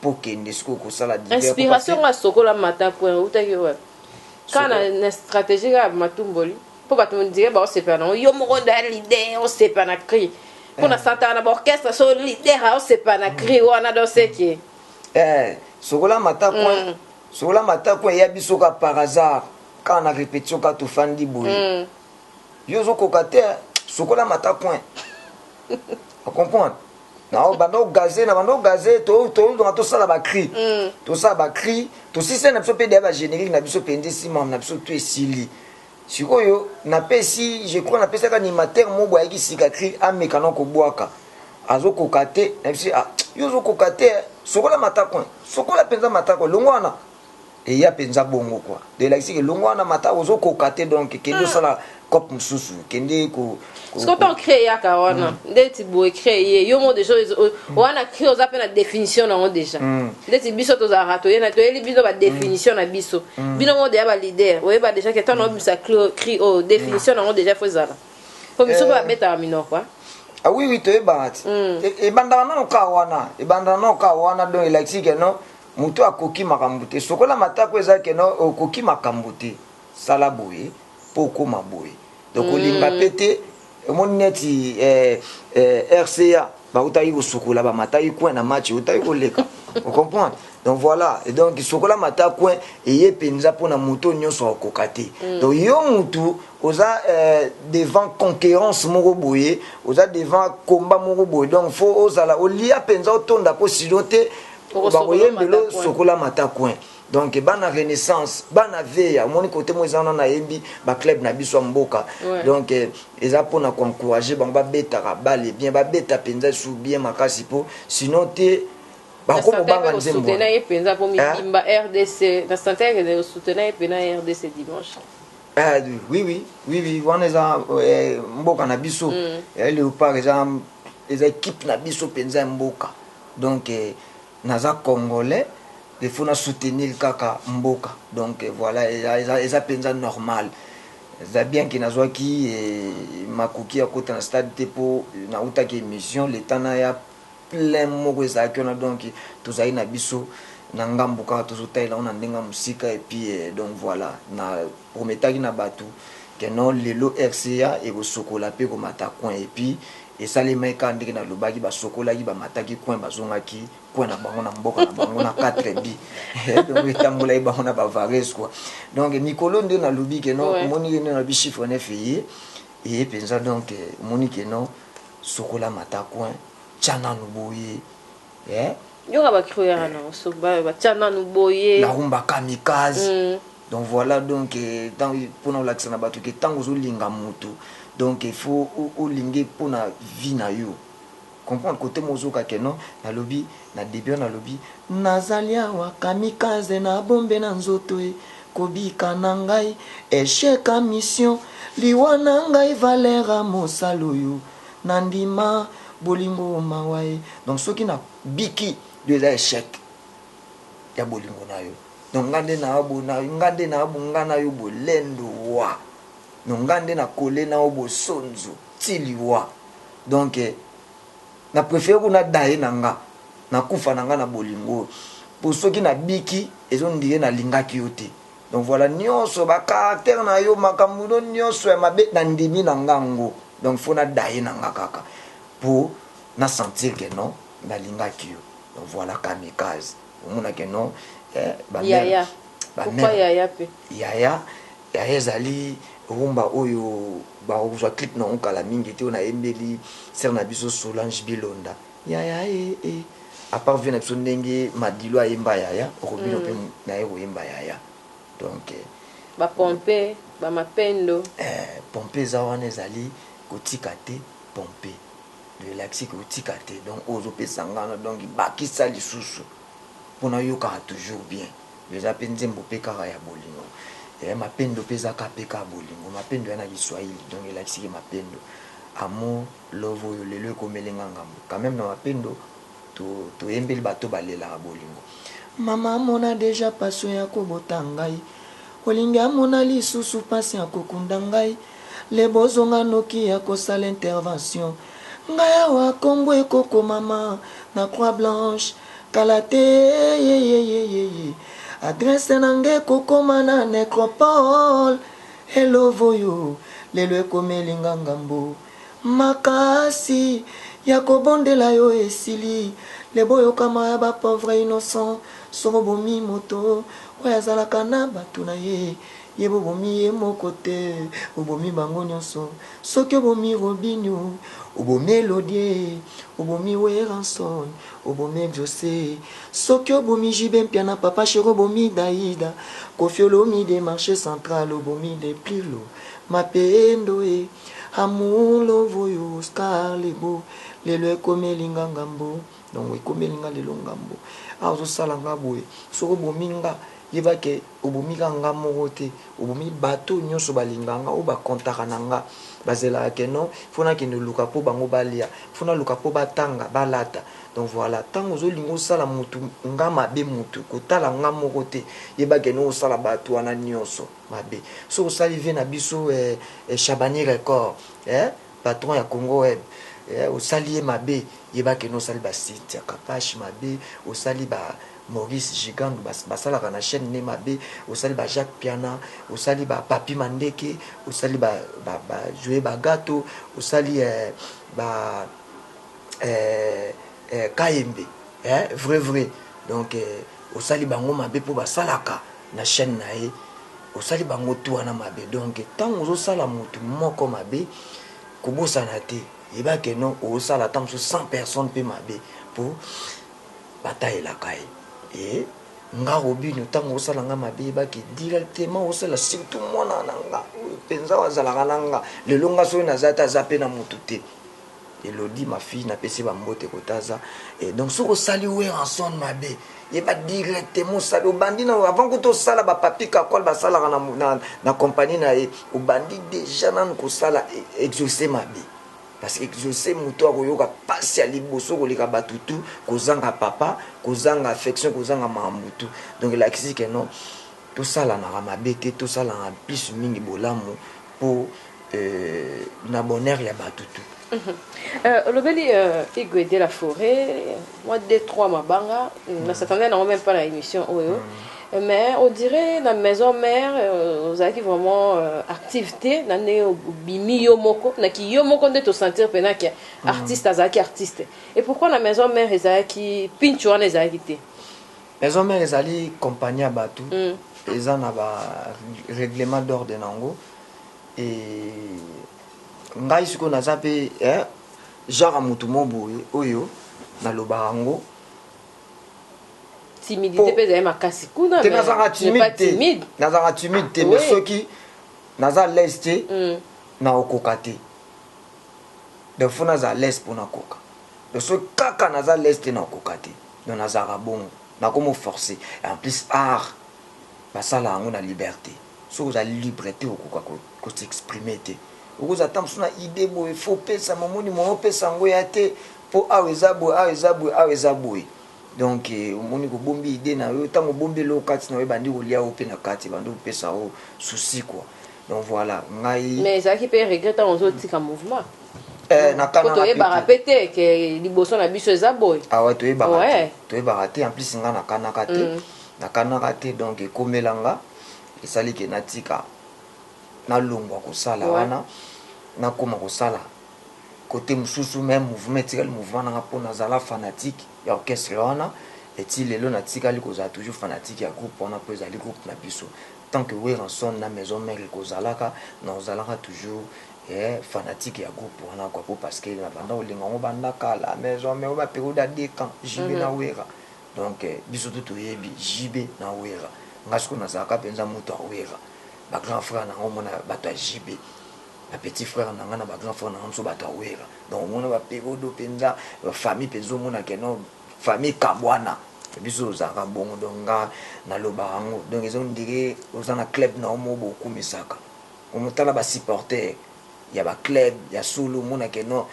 po kende sikoyo kosala divers Inspiration nga sokola mata point outaki wapi? Kaka na, na strategie kaka ya matumboli po bato on dirait bao sepela nango yo moko nde ya leader osepa na cri po na sentaka na ba orchestre so leader ao sepela na cri wana donc c'est que eh sokola mata point sokola mata point eya biso kaka par hasard kaka na repetition kaka tofandi boye Yo ozo koka te hein. Sokola mata coin. O comprendre? na obanda ogaze na banda ogaze tozonga tosala bacri mm. tosala bacri tosisai na biso mpe deya bagénérique na biso mpenza esimam na biso tu esili sikoyo napesi je crois napesaka animateur mo boye ayaki sika cri ameka na kobwaka azokoka te na biso ah, yo ozokoka te sokola matako sokola mpenza matako longo wana Eya penza bongo quoi donc elakisi ke longwa wana mata ozo koka te donc kende osala cop mususu kende ko Siko to cree yaka wana ndeti boye cree ye yo mo deja wana cree oza pe na definition na ngo deja ndeti biso tozalaka toye na toyeli bino ba definition na biso bino mo deja ba leader oyeba deja ke tano obimisa cree oyo definition na ngo deja fo ezala po biso pe babetaka minoko hein Ah oui oui toyebaka ti ebandaka nano ka wana ebandaka nano ka wana donc elakisi ke non Moto akoki makambo te. Sokola matako eza que non okoki makambo te. Sala boye po okoma boye. Donc kolinga pe te. Omoni neti eh RCA ba utaki ko sokola ba mataki coin na match eutaki ko leka. O comprendre? Donc voila. Et donc sokola mata coin eye penza pona moto nionso akokoka te. Donc yo mutu oza devant conquerance moko boye, oza devant combat moko boye donc faut ozala olia penza otonda po sinon te Bango yembelo sokola mata coin. Donc bana renaissance bana veya omoni kote mo eza wana na yembi ba club na biso ya mboka donc eza pona ko encourager bango ba betaka balle bien ba beta penza su bien makasi po sinon te bako bobanga nzembo na ye penza po mibimba RDC na santai ke de soutenir ye pena RDC dimanche ah oui oui oui oui wana eza mboka na biso mm. leopard eza eza équipe na biso penza mboka Donc naza congolais il faut na soutenir kaka mboka donc voila eza penza normal eza bien que nazwaki makoki ya kota na stade te po na utaki emission le temps naya plein moko ezalaki wana donc tozali na biso na ngambo kaka tozo talela yango na ndenge ya mosika et puis donc voila na prometaki na batu que non lelo RCA ekosokola pe ekomata coin et puis esalemaki kaka ndenge nalobaki basokolaki bamataki coin bazongaki coin na bango na mboka na bango na quatre buts donc etambolaki bango na bavares quoi donc mikolo nde nalobi que non omoni nde nalobi chiffre neuf eye eye penza donc omoni que non sokola mata coin tia nanu boye eh yoka ba cruera eh. na oso ba ba tia nanu boye la rumba kamikaze mm. donc voilà donc eh, tant pona olakisa na bato ke tango ozolinga moto donc il faut olinge pona vie na yo comprendre kote mozoka ke non nalobi na debut nalobi nazali awa kamikaze na bombe na nzoto e kobika na ngai echec a mission liwa na ngai valera mosala oyo Na ndima bolingo mawa eh. Donc soki na biki yo eza echec ya bolingo na yo donc nga nde na bo na nga nde na bo nga na yo bolendo wa donc nga nde na kole na yo bosonzo ti liwa donc eh, na prefere ko na daye na nga na kufa na nga na bolingo po soki na biki ezo ndire na lingaki yo te Donc voila nionso ba caractère na yo makambu no nionso ya mabe na ndimi na nga ngo donc faut na daye na nga kaka po na sentir que non na lingaki yo donc voila kamikaze omona que non eh, ba yaya ba pourquoi yaya pe yaya yaya ezali rumba oyo bakozwa clip na ngo kala mingi te oyo nayembeli sere na biso solange bilonda Yaya eh eh a part vieux na biso ndenge madilu ayemba yaya oko bino pe naye koyemba yaya donc Ba pompe ba mapendo. Eh pompe eza wana ezali kotika te pompe donc elakisi ke otika te donc oyo ozo pesa nga wana donc bakisa lisusu po nayokaka toujours bien donc eza pe nzembo pe kaka ya bolingo eh mapendo pe eza kaka pe kaka bolingo mapendo eza na kiswahili donc elakisi ke mapendo amour Love oyo lelo ekomeli nga ngambo Quand meme na mapendo toyembeli bato balelaka bolingo Mama amona dejà passion ya kobota ngai Olingi amona lisusu pasi ya kokunda ngai Le bozo nga noki ya kosala intervention Ngai awa kombo ekokomama na croix blanche Kala te eyeyeyeyeye Adresse na nga ekokoma na necropole e Love oyo lelo ekomeli nga ngambo. Makasi ya ko bondela yo esili le bo yoka mawa ya ba pauvre innocent soki obomi moto oyo azalaka na batu na ye ye bo bomi ye moko te obomi bango nionso soki obomi robinio obomi elodie obomi werrason obomi exauce soki obomi JB mpiana papa cheri obomi daida koffi olomide marche central obomi deplilo mapendo e. Amour love oyo star lebo lelo ekomeli nga ngambo donc ekomeli nga lelo ngambo ah ozo sala nga boye soki obomi nga yeba ke obomi kaka nga moko te obomi batu oyo nionso ba lingaka nga oyo ba comptaka na nga ba zelaka ke non il faut na kende luka po bango ba lia il faut na luka po ba tanga ba lata donc voila tangu ozo linga osala mutu nga mabe mutu ko tala nga moko te yeba ke non osala batu wana nionso mabe soki osali vie na biso eh, shabani record eh, patron ya congo web eh, osali ye mabe yeba keno osali ba site ya kapash mabe osali ba maurice gigandu basalaka na chaîne ne mabe osali ba jacques piana osali ba papi mandeke osali ba, ba, ba joe bagato osali eh, ba eh, eh, kayembe eh, vrai vrai donc eh, osali bango mabe mpo basalaka na chaine naye osali bango tout wana mabe donc tangu ozosala mutu moko mabe kobosana te yeba que no osala ata mosusu 100 personne pe mabe po batalelaka ye et nga robino tangu osala nga mabe yeba que directement osala surtout mwana na nga oyo penza azalaka na nga lelo nga soki naza te aza pe na mutu te Elodie ma fille na pesi ba mbote kotaza et donc soki osali Werrason mabe yeba directement osali obandi na avant kutu osala ba papi kakol basalaka na, na, na compagnie na ye obandi deja nanu kosala e, exauce mabe parce que exauce moto akoyoka pasi ya liboso koleka bato tu kozanga papa kozanga affection kozanga makambo tu donc elakisi ke non tosalanaka mabe te tosalaka plus mingi bolamu po euh, na bonheur ya batu tout Euh, olobeli euh, igwe de la forêt moi deux trois mabanga mm. na s'attendait nango même pas na émission oyo mm. Euh, mais on dirait na maison mère euh, ozalaki vraiment euh, active te na ndenge obimi yo moko naki yo moko nde tosentir mpena ke mm. artiste azalaki artiste et pourquoi na maison mère ezalaki pincho wana ezalaki te Maison mère ezali compagnie ya batu eza na ba reglement d'ordre na yango et ngai sikoyo naza pe genre ya mutu moko boye oyo nalobaka yango timidite pe ezali makasi kuna te nazalaka timide te nazalaka timide te mais soki naza alaise te nakokoka te donc fo naza alaise mpo nakoka Donc soki kaka naza l'aise te nakoka te donc nazalaka bongo nakomo forcer et en plus art basala yango na liberte soki ozali libre te okoka ko s'exprimer te okoza ata mosusu na idee boye faut opesa momoni moyen opesa yango ya te po awa eza boye awa eza boye awa eza boye Donc omoni ko bombi idee na yo tango obombi eloko kati na yo ebandi kolia yo pe na kati ebandi kopesa yo souci quoi donc voilà ngai mais ezalaki pe regret tango ozo tika mouvement eh, na kana toyebaka pe te ke liboso na biso eza boye awa ah toyebaka te toyebaka te en plus nga nakanaka te mm. nakanaka te donc ekomela nga esali ke natika nalongwa kosala wana nakoma kosala cote mususu meme mouvement etikali mouvement nanga po nazala fanatique ya orchestre wana et ti lelo natikali kozala toujours fanatique ya groupe wana po ezali groupe na biso tant que Werrason na maison mère ekozalaka nakozalaka toujours eh, fanatique ya groupe wana quoi po parce que nabanda kolinga yango banda kala maison mère ba periode ya deux camps JB mm -hmm. na Werra donc eh, biso tout toyebi JB na Werra nga siko nazalaka mpenza moto ya Werra ba grand frère na yango mona bato ya JB ba petit frère na nga na ba grand frère na nga biso batu ya werra donc omona ba perodo penza ba famille penza omona ke non famille kabwana biso tozalaka bongo donc nga na loba yango donc eza ondire oza na club na yo moko bokumisaka omotala ba supporter ya ba club ya solo omona ke non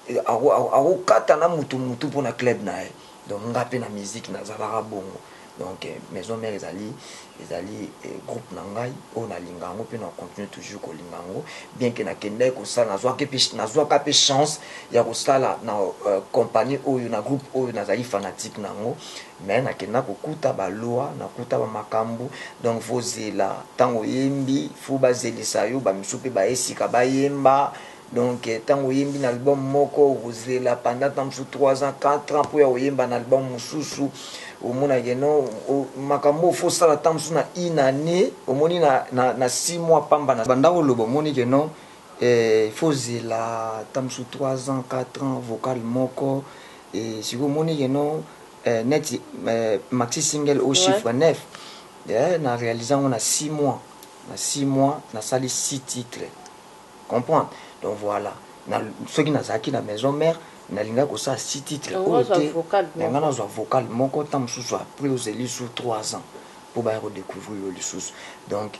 akokata na mutu mutu mpona club na ye Donc nga pe na musique na zalaka bongo donc maison mère ezali ezali groupe na ngai oyo na linga yango pe na continuer toujours ko linga yango bien que na kendaki ko sala na zwaki pe na zwaka pe chance ya ko sala na compagnie oyo na groupe oyo na zali fanatique na yango mais na kenda ko kuta ba loi na kuta ba makambu donc faut zela tango oyembi faut ba zelisa yo ba misusu pe ba ye sika ba yemba Donc tango oyembi na album moko okozela pendant temps mosusu trois ans, quatre ans mpo ya koyemba na album mosusu. Omona que non makambo oyo faut osala temps mosusu na une annee omoni na, na, na six mois pamba na banda koloba omoni que non eh, faut ozela temps mosusu trois ans, quatre ans vocal moko eh, sikoyo omoni que non eh, neti eh, maxi single oyo chiffre ouais. neuf eh, na realise yango na six mois, na six mois nasali six titres comprendre donc voilà na soki nazalaki na maison mère nalingaki kosala si titre oyo te na ngai nazwa vocal moko ntango mosusu apres ozeli su 3 ans mpo baya kodécouvrir yo lisusu donc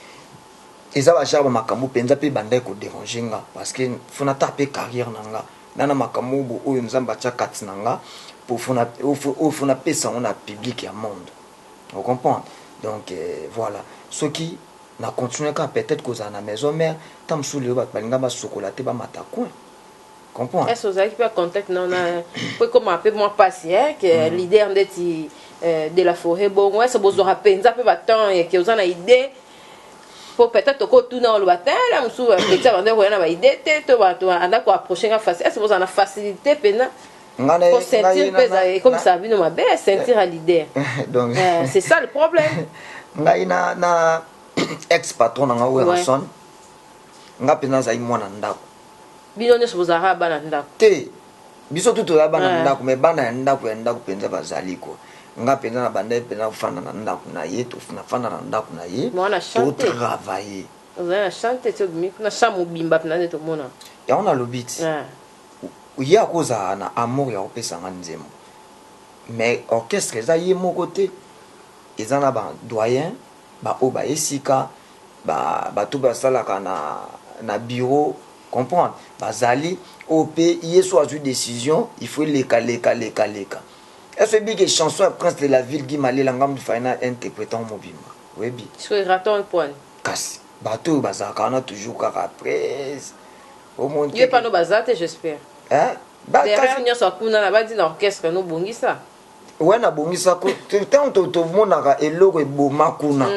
eza bajare ba makambo mpenza mpe ebandaki koderange nga parce que fona ata mpe carrière na nga na na makambo oyo oyo nzambe atya kati na nga oyo fo napesa yango na public ya monde ocomprendre donc euh, voilà soki Na continuer kaka peut etre kozala na maison mère temps mosusu lelo batu balinga ba sokola te ba mata coin comprendre. Est ce ozalaki pe contact na na po ekoma pe mwa pasi hein que mm. leader ndeti euh, de la forêt bongo est ce bozwaka penza pe ba temps et que oza na idée po peut-être okotuna oloba te la mosusu petit abanda koya na baide te to bato anda koapproche nga facile est ce bozala na facilité mpena Nga na- po ceinture ngai na- peza na- ekomisa bino mabe ceinture ya leader Donc- Eh, c'est ça le problème ngai na, na ex patron na ngai werrason nga mpenza nazali mwana ndako bino nyonso bozalaka bana ndako te biso tu toza bana Ouais. ndako mais bana ya ndako ya ndako mpenza bazali ko nga mpenza na bandaki mpenza kofanda na ndako na ye to- nafanda na ndako na ye Mwana chante. totravaille ozali na chante ti obimi kuna chambre mobimba mpena nde tomona yango nalobi ti Ah. ye ako zala na amour ya ko pesa nga nzembo mais orchestre eza ye moko te eza na ba doyen ba oyo ba ye sika ba batu ba salaka na na bureau comprendre ba zali oyo pe ye so azui decision il faut eleka leka leka leka est ce oyebi ke chanson ya prince de la ville Guy Malela nga mutu fallait na interprete yango mobimba oyebi soki raton pwani kasi Bato oyo bazalaka wana toujours kaka après o moni te Yo epa no baza te j'espère? hein ba kasi Derrière nionso ya kuna na badi na orchestre no bongisa. Ouais na bongisa ko to tango to to monaka eloko eboma kuna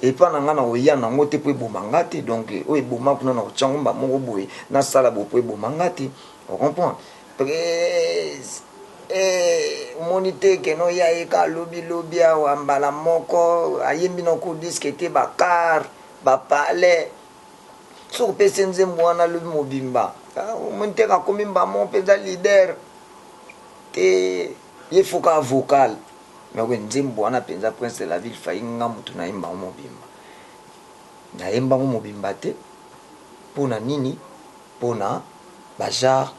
epa na nga na koya na ngo te po eboma nga te donc oyo eboma kuna na kotia ngo mbamoko boye na sala boye po eboma nga te O comprendre? Pres. Eeh omoni te que non ya ye kaka lobi lobi awa mbala moko ayembi na court disque te ba car ba palais soki opesi ye nzembo wana lobi mobimba omoni te que akomi mbala moko mpenza leader te ye faut kaka vocal mais oyo nzembo wana mpenza prince de la ville fayi nga motu nayemba yango mobimba nayemba yango mobimba te mpo na nini pona ba genre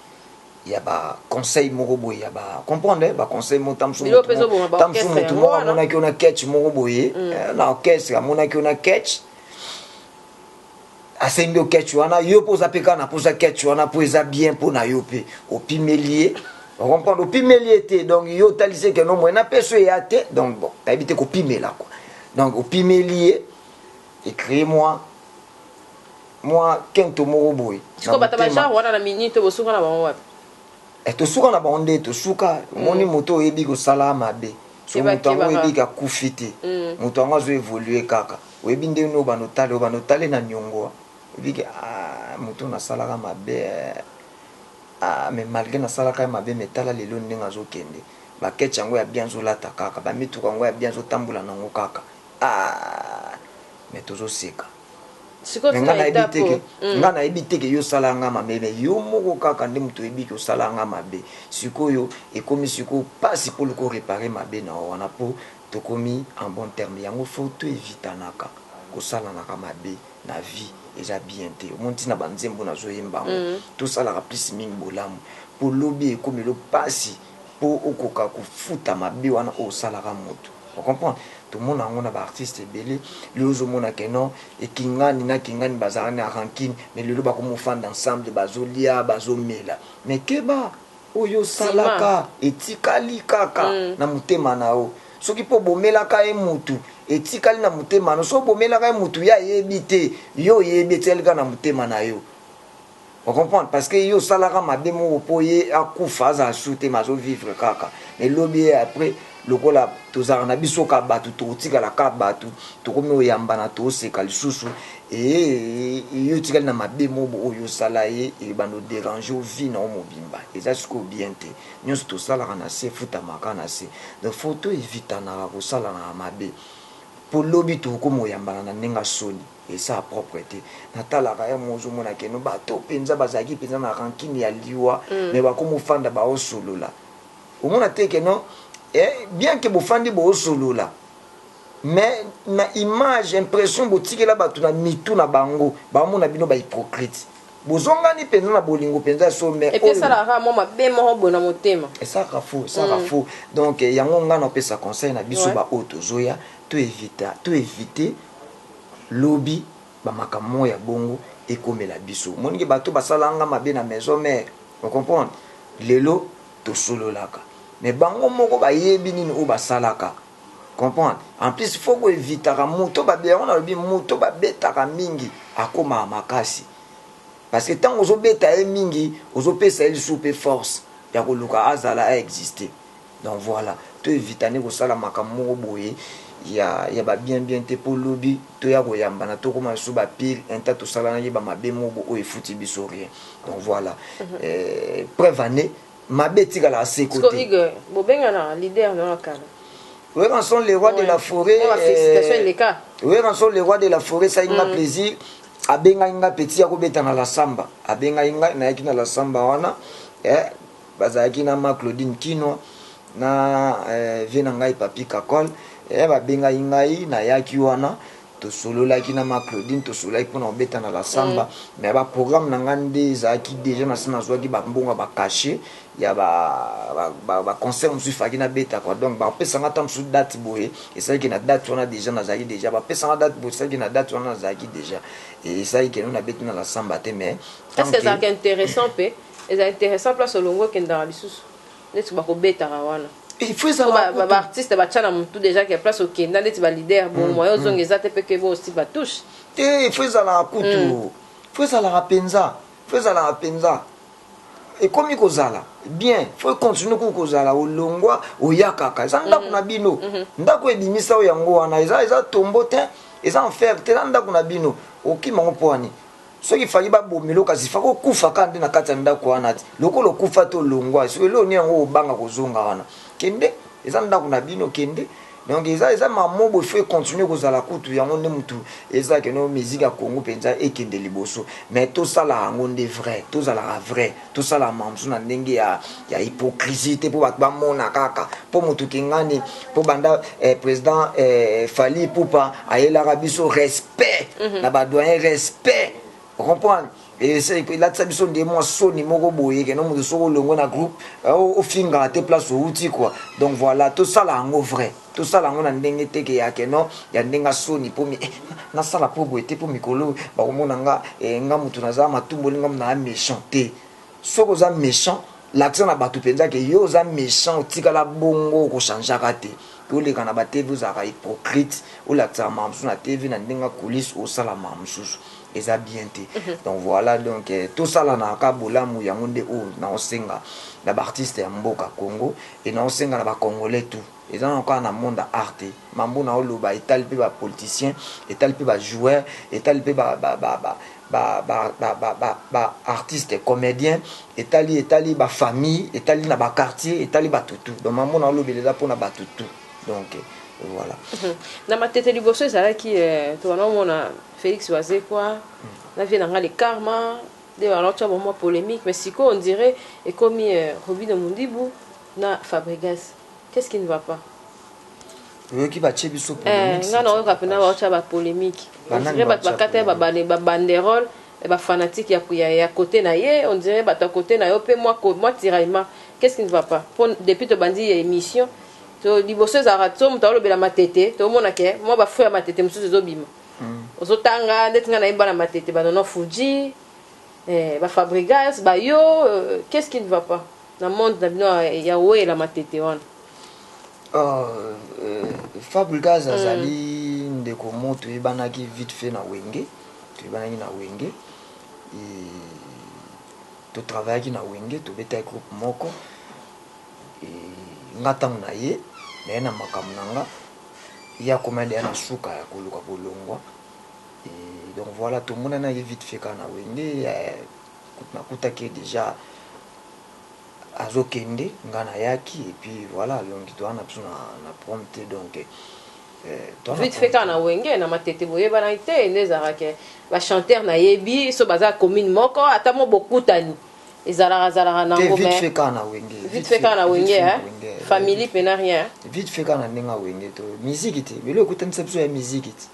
ya ba conseil moko boye ya ba comprendre ba conseil moko tangu musu mutu moko amonaki yo na catch moko boye na orchestre amonaki yo na catch asengi yo catch wana yo pe oza pe kaka na posa catch wana po eza bien pona yo pe opimeli ye ocomprendre opimeli ye te donc yo otalisi ye ke no moyen na peso eya te donc bon nayebi te kopimela quoi donc opimeli ye ecree moi Mwa kento moko boye na motema. Sikoyo bato ya genre wana na minute bosuka na bango wapi? Eh tosuka na bango nde tosuka, omoni moto oyebi kosala mabe. Soki Keba moto yango keba oyebi ke kaka. akufi te, Mm. moto yango azo evoluer kaka. Oyebi ndenge nini oyo banda otala ye, oyo banda otala ye na niongo, oyebi ke aah moto oyo nasalaka mabe eh, aah mais malgre nasalaka ye mabe mais tala lelo ndenge azo kende. Ba ketch yango ya bien azo lata kaka, ba mituka yango ya bien azo tambola na yango kaka aah mais tozo seka. nga nayebi teke mm. nga nayebi teke yo sala nga mabe me yo moko kaka nde moto oyebi ke osala nga mabe sikoyo ekomi sikoyo pasi mpo loko repare mabe na yo wana mpo tokomi en bon terme yango fo to evitanaka kosalanaka mabe na vie eza bien te omoni ntina banzembo nazoyemba yango mm. tosalaka plus mingi bolamu mpo lobi ekomelo pasi po okoka kofuta mabe wana oyo osalaka mutu o comprendre tomona yango na ba artiste ebele lelo ozomona que non ekingani na kingani bazalaka na rancune mais lelo bakomi ofanda ensemble bazolia bazomela mais keba oyo osalaka etikali kaka na motema na yo soki pe obomelaka ye mutu etikali na motema na yo soki obomelaka ye mutu ye ayebi te yo oyebi etikali kaka na motema na yo O comprendre parce que yo osalaka mabe moko po ye akufa azala sur te mais azo vivre kaka mais lobi ye après lokola tozalaka na biso ka batu tokotikala ka batu tokomi oyambana toseka lisusu eeee yo otikali na mabe moko oyo osala ye ebanda oderange yo vie na yo mobimba eza sikoyo bien te nionso tosalaka na se efutamaka na se donc faut to evitanaka kosalanaka mabe po lobi tokomi oyambana na ndenge ya soni Esa propre te natalaka ya mozo mona ke no bato penza bazalaki penza na rancune ya liwa mais bakomo fanda bao solola omona te ke no eh bien ke bofandi boo solola mais na image impression botikela bato na mitu na bango bao mona bino ba hypocrite bozongani penza na bolingo penza ya solo mais oyo epesaka kaka mwa mabe moko boye na motema esaka faux esaka faux donc yango nga na pesa conseil na biso ba oyo tozoya to evita to evite lobi ba makambo moko ya bongo ekomela biso omoni ke bato basala nga mabe na maison mère o comprendre lelo tosololaka mais bango moko bayebi nini oyo basalaka comprendre en plus faut ko evitaka moto babe yango nalobi moto babetaka mingi akomaka makasi parce que tango ozobeta ye mingi ozopesa ye lisusu pe force ya koluka azala a existe Donc voila, to evita nde kosala makambo moko boye ya, ya ba bien bien te po lobi toya koyambana tokoma lisusu ba pire un temps tosalanaki ba mabe moko boye oyo efuti biso rien. Donc voila. Eh, preuve en est mabe etikalaka se ko Siko te. Igor, bobengana leader na ya kala. Werrason le roi de la foret. Mwa felicitation eh, eleka. Werrason le roi de la foret ça nga plaisir. Abengaki nga petit ya kobeta na la samba. Abengaki nga nayaki na la samba wana. Eh, Bazalaki na ma Claudine Kinwa na vieux na ngai Papy Kakol eh babengaki ngai nayaki wana tosololaki na ma Claudine tosololaki mpona kobeta na la samba mais ba programme na ngai nde ezalaki dejà nasi nazwaki ba mbongo ya ba cachet ya ba concert mosusu efalaki nabeta quoi donc bakopesa ngai ata mosusu date boye esalaki ke na date wana dejà nazalaki dejà bapesa ngai date boye esalaki ke na date wana nazalaki dejà esalaki ke no nabeti na la samba te mais est ce que ezalaka interessant mpe Eza interessant place olongwe okendaka lisusu neti bako betaka wana Il faut ezala ba, ba, ba artiste batia na mutu deja ke place okenda ndeti ba leader bo mm, moyen ozonga mm. eza te pe ke bo aussi ba touche te il faut ezalaka kutu mm. faut ezalaka penza faut ezalaka penza ekomi kozala bien faut continue kuku kozala olongwa oya kaka eza ndako mm. na bino mm -hmm. ndako ebimisa yo yango wana eza eza tombo te eza enfer te eza ndako na bino okima ngo mpo wani Soki fali ba bomelo kasi fako okufa kaka nde na kati ya ndako wana ti lokola okufa te olongwa soki eloko nini yango obanga kozonga wana kende eza ndako na bino kende donc eza eza mamobo il faut e continuer kozala kutu yango nde mutu eza keno musique ya Congo penza ekende liboso mais tosala yango nde vrai tozalaka vrai Tosala mamzu na ndenge ya, ya hypocrisie te mpo bato bamona kaka. Mpo moto kingani, mpo banda eh, president eh, Fally Ipupa ayelaka biso respect mm -hmm. na ba doyen respect comprendre elatisa biso nde mwa soni moko boye keno moto soki olongwe na groupe ofingaka te place outi quoi donc voilà tosala yango vrai Tosala yango na ndenge te que ya que non ya ndenge ya soni po eh nasala po boye te po mikolo oyo bakomona nga eh nga mutu naza matumboli nga mutu naza mechant te soki oza mechant lakisa na bato mpenza ke yo oza méchant otikala bongo okochangeaka te oleka na ba tv ozalaka hypocrite olakisaka makambo mosusu na tv na ndenge ya coulisse osala makambo mosusu eza bien te donc voilà donc eh, tosalanaka bolamu yango nde oyo naosenga na baartiste ya mboka congo e naosenga na bacongolais tout eza na kaka na monde ya art te mambo naoloba etali mpe bapoliticien etali mpe bajoueur etali mpe baartiste comédien etali etali bafamille etali na baquartier etali bato tout donc mambo naolobela eza mpo na bato tout donc eh, voilà na matete liboso ezalaki eh, towana omona Felix wazekwa na vie na nga le karma de alors tu as bon moi polemique mais siko on dirait ekomi Robino Mundibu na Fabregas qu'est-ce qui ne va pas oyoki batie biso polemique nga na oyoka pena ba tia ba polemique on dirait bato bakata ba ba banderole ba fanatique ya ya ya côté na ye on dirait bato ya côté na yo pe moi moi tiraillement qu'est-ce qui ne va pas pour depuis to bandi ya émission to liboso ezalaka to moto alobela matete to mona ke moi ba fou ya matete mosusu ezobima ozo tanga ndeti nga nayemba na matete ba nono fuji eh, ba fabrigas ba yo euh, qu'est ce qui ne va pas na monde na bino ya wela matete wana oh, euh, fabrigas mm. azali mm. ndeko mo toyebanaki vite fait na wenge toyebanaki na wenge totravaillaki na wenge tobetaki groupe moko nga ntango na ye naye na makambo na nga ye akoma deja na suka ya koluka kolongwa et donc voila tomona na ye vite fait kaka na wenge nakutaki ye deja azokende nga nayaki et puis voila alongi toza na biso na, na prom te donc euh, vite fait kaka na wenge na matete boyebanaki te nde ezalaka ke ba chanteur nayebi so baza commune moko ata mo bokutani ezalaka zalaka na ngo mais vite fait na wenge vite fait na wenge hein family pe na rien vite fait na ndenge wenge to musique te belo ekutanisa biso ya musique te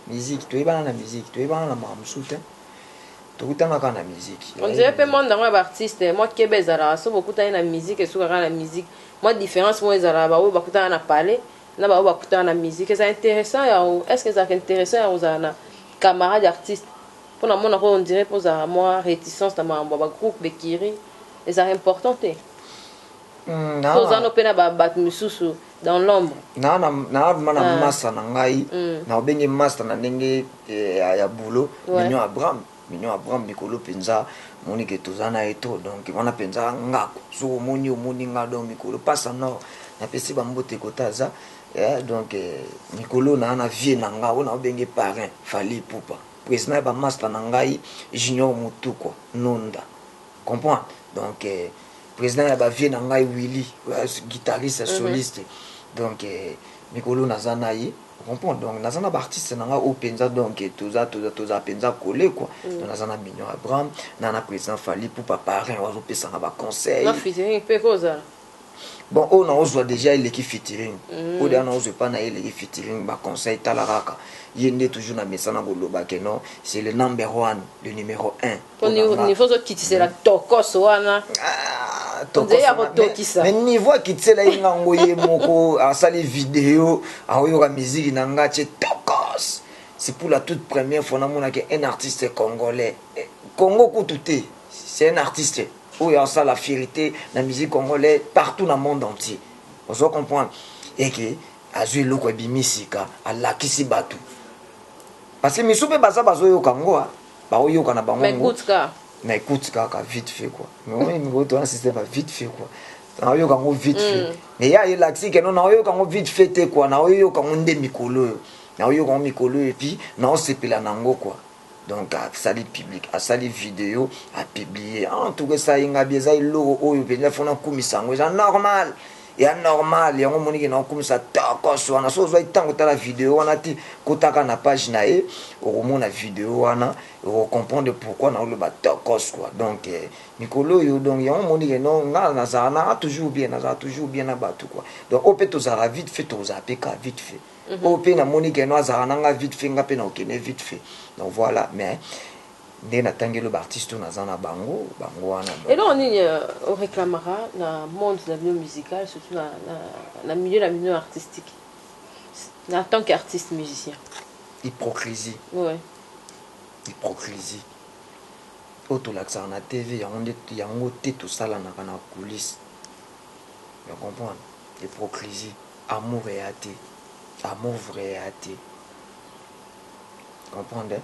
musique to yebana na musique to yebana na ma musute tokutana kaka na musique on dirait pe monde ngo ba artiste moi kebe ezalaka so bokutani na musique esuka kaka na musique moi différence moi ezalaka ba oyo bakutana na palais na ba oyo bakutana na musique eza intéressant ya est-ce que ezalaka intéressant ya kozala na camarade artiste Po na monaka yo on dirait pe ozalaka mua reticence na makambo ya ba groupes d'ecuries, ezalaka important te? Hum To oza nao pe na ba batu misusu dans l'ombre? Nao na nao vraiment na masta na ngai, nao benge masta na ndenge ya boulot, Mignon Abraham, Mignon Abraham mikolo penza omoni que toza na ye trop donc wana penza ngaku, soki omoni ye omoni nga donc mikolo pasta nord na pesi ba mbote kote aza, donc mikolo naa na vieux na nga oyo nao benge parrain Fally Ipupa. President ya ba masta na ngai junior mutuku nunda comprend donc president ya ba vieux na ngai willy guitariste soliste donc mikolo naza na ye comprend donc naza na ba artiste na ngai oyo penza donc toza toza toza penza colle quoi donc naza na mignon abraham na na president fally pupa parrain oyo azo pesa nga ba conseil na featuring pe ko ozala Bon oyo na ozwa dejà eleki featuring mm. Oyo deja na ozwa epa na ye eleki featuring ba conseil tala kaka ye nde toujours na mesa na koloba que non c'est le number one le numéro 1 po niveau zo kitisela mm. tokos wana ah. me niveau akitisela ye nga ngo ye moko asali video aoyoka miziki na nga ce tokos c'est pour la toute première fois namonaki un artiste congolais eh, congo kutu te c'est un artiste Oyo asala fierite na musique congolais partout na monde entier. Ozo comprendre? Et que azui eloko ebimi sika, alakisi batu. Parce que misu pe baza bazo yoka ngo, ba oyoka na bango ngo. Na écoute kaka vite fait quoi. Mais on est go to un système vite fait quoi. Na oyoka ngo vite fait. Mm. Mais ya elakisi que non na oyoka ngo vite fait te quoi. Na oyoka ngo nde mikolo. Na oyoka ngo mikolo et puis na osepela na ngo quoi. Donc asali public, asali video a publie en tout cas esali nga bien, eza eloko oyo penza faut nakumisa yango, eza normal ya normal yango omoni ke naokumisa tokos wana so ozwaki ntango otala video wana te kotaka na page na ye okomona video wana okocomprendre pourquoi naoloba tokos kua donc eh, mikolo oyo donc yango omoni ke no nga nazala naa toujours bien nazala toujours bien na bato kua donc oyo mpe tozala vite fait tokozala mpe ka vite fait oyo pe na moni que non azalaka na nga vite fait nga pe na kokende vite fait donc voilà mais nde na tangi elo ba artiste oyo naza na bango bango wana donc eloko nini euh, o reclamaka na monde na bino musical surtout na, na, na milieu na bino artistique na tant que artiste musicien hypocrisie ouais. hypocrisie oyo tolakisaka na tv yango nde yango te tosalanaka na coulisse ya comprendre hypocrisie Amour eya te amour vrai eya te comprendre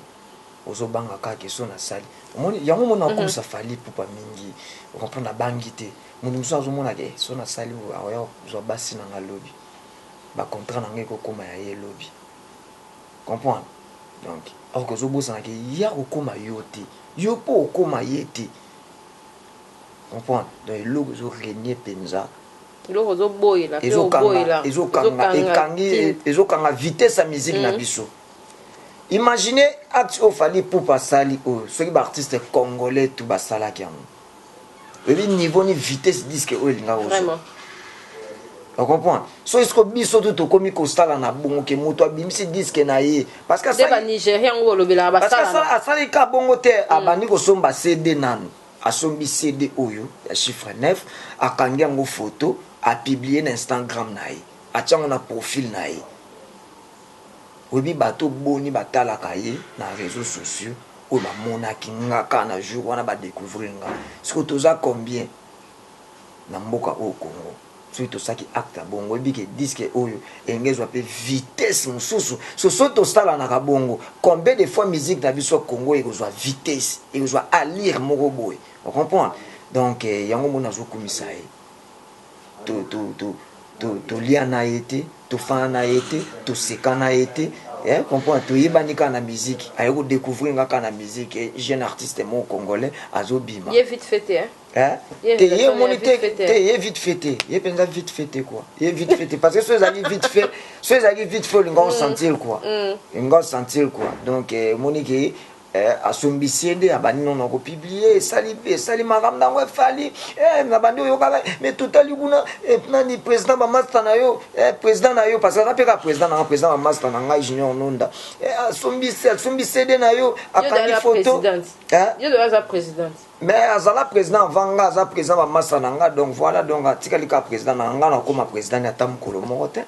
ozo banga kaka ke son asali omoni yango omoni nakomisa Fally Ipupa mingi o comprendre nabangi te mutu mosusu azomona ke son asali boye akoya kozwa basi na nga lobi ba contrat na nga ekokoma ya ye lobi comprendre donc or ke ozobosana ke ye akokoma yo te yo pe okoma ye te comprendre donc eloko ezo regner penza eloko ozo boyela pe oboyela ezo kanga ekangi ezo kanga vitesse ya musique na mm. biso imaginez acte oyo Fally Ipupa asali oyo soki ba artistes congolais tout basalaki yango oyebi niveau ni vitesse disque oyo elinga kozwa ocomprendre so esiko biso tu tokomi kosala na bongo ke moto abimisi diske na ye parce que asali ka bongo te mm. abandi kosomba cd nanu Asombi CD oyo ya chiffre neuf, akangi yango photo, a publier na Instangram na ye, atie yango na profil na ye. Oyebi bato boni batalaka ye na reseaux sociaux oyo bamonaki nga kaka na jour wana ba decouvrir nga? Sikoyo toza combien na mboka oyo Congo? Soki tosalaki acte ya bongo, oyebi ke disque oyo elingi ezwa pe vitesse mosusu. So soki tosalanaka bongo, combien de fois musique na biso Congo ekozwa vitesse, ekozwa allure moko boye. O comprendre? Donc, yango omoni nazo kumisa ye. To, to, to, to, tolia na ye te, tofanda na ye te, toseka na ye te. Eh, comprendre? Toyebani kaka na musique. Aye ko decouvrir nga kaka na musique. Jeune artiste moko congolais azobima. Ye vite fait te, hein? Eh? te ye omoni te te ye vite fait te ye mpenza vite fait te quoi ye vite fait te parce que so ezalaki vite fait so ezalaki vite fait olinga osentir mm. quoi mm. olinga osentir quoi donc eh, omoni ke eh, asombisi ye nde abandi nono kopiblie esali esali makambo nango efali eh, na bandi oyokaka me totali kuna eh, nani président bamasta na yo eh, président na yo parce que aza mpe kaka président na nga président bamasta na ngai junior nonda eh, asombisi asombisi ede na yo akangi foto eh? Mais azala president avant nga aza president ba masa na nga donc voilà donc atikali ka president na nga na koma president ata mukolo moko te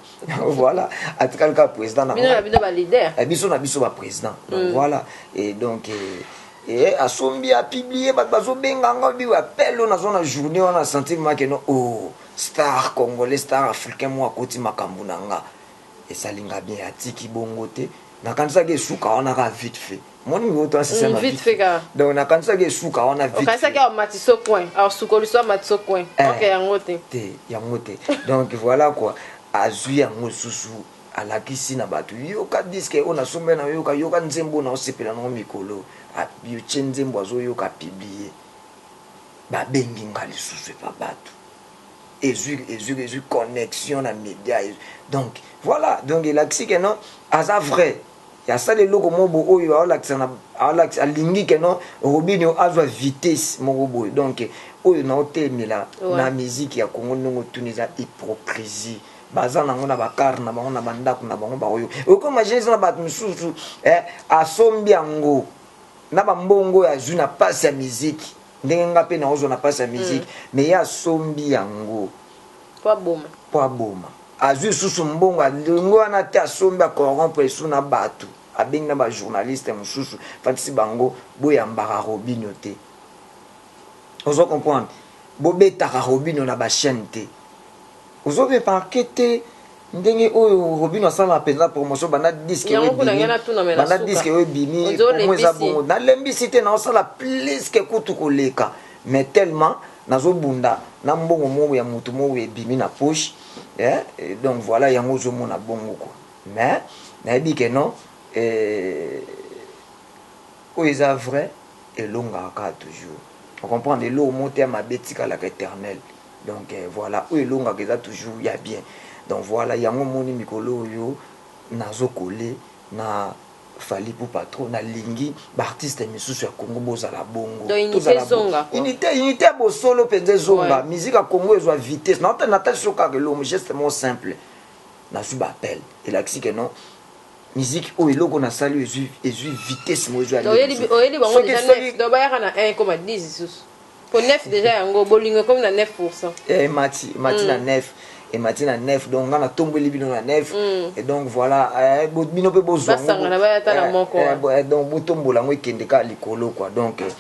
voilà atikali ka president na nga bino ba leader eh, biso na biso ba president donc mm. voilà et donc eh, eh, asombi apublie bato bazobenga nga biwa appel oyo nazwa na journée wana sentir make no o oh, star congolais star africain moko akoti makambo na nga esalinga bien atiki bongo te nakanisaki esuka wana kaka vite fait moni ngo to asisa mm, na vite fait kaka donc nakanisaki esuka wana vite okanisaki awa matiso coin alors sukoliso ya matiso coin eh, ok yango te te yango te donc voilà quoi azwi yango susu alakisi na bato yoka diske oyo nasombe na yoka yoka nzembo oyo naosepela nango mikolo yotie nzembo azoyoka apiblie babengi nga lisusu epa bato ezui ezui ezui connexion na media ezui donc voilà donc elakisi que non aza vrai asala eloko moko bo oyo aolakisa na aolakisa alingi que non Robinho azwa vitesse moko boye donc oyo naotelemela Ouais. na miziki ya Congo ndenge otuni eza hypocrisie baza nango na bakar na bango na bandako na bango baoyo okomagine eza na bato mosusu eh, asombi yango na bambongo oyo azwi na pasi ya miziki Ndenge nga pe naozwa na pasi ya musique mais ye asombi yango po aboma azwi lisusu mbongo alongwe wana te asombi a corrompre lisusu na batu abengi na ba journaliste mususu afatisi bango boyambaka robinho te ozo comprendre bobetaka robinho na ba chaine te. Ozo remarquer te ndenge oyo robino asala penza promotion banda disque oyo ebimi banda disque oyo ebimi promo eza bongo na lembisi te nazo sala plus que kutu ko leka mais tellement nazo bunda na mbongo moko ya mutu moko boye ebimi na poche eh donc voila yango ozo mona bongo quoi mais na yebi que non eh oyo eza vrai elongaka kaka toujours o comprendre eloko moko te ya mabe etikalaka eternel Donc voila oyo elongaka eza toujours ya bien donc voila yango omoni mikolo oyo nazo colle na Fally Ipupa trop nalingi ba artistes misusu ya Congo bozala bongo Donc unite tozala bo- ezonga quoi. unité unité ya bosolo mpenza ezonga Ouais. musique ya Congo ezwa vitesse na ota natalisi yo kaka elongo geste moko simple nazwi ba appel elakisi que non musique oyo eloko nasali oyo ezwi ezwi vitesse moko ezwi Donc, oyeli- oyeli bango soki déjà soki neuf donc bayaka na 1 ekoma 10 lisusu Po neuf dejà yango bolingo ekomi na 9 pourcent. Eh emati emati na neuf emati na neuf donc nga natombweli bino na neuf et donc voilà eh, bo- bino mpe bozwa yango, Basangana, baya ata na eh, moko, eh, ah. bo- eh, donc botombola yango ekende kaka likolo kua donc eh,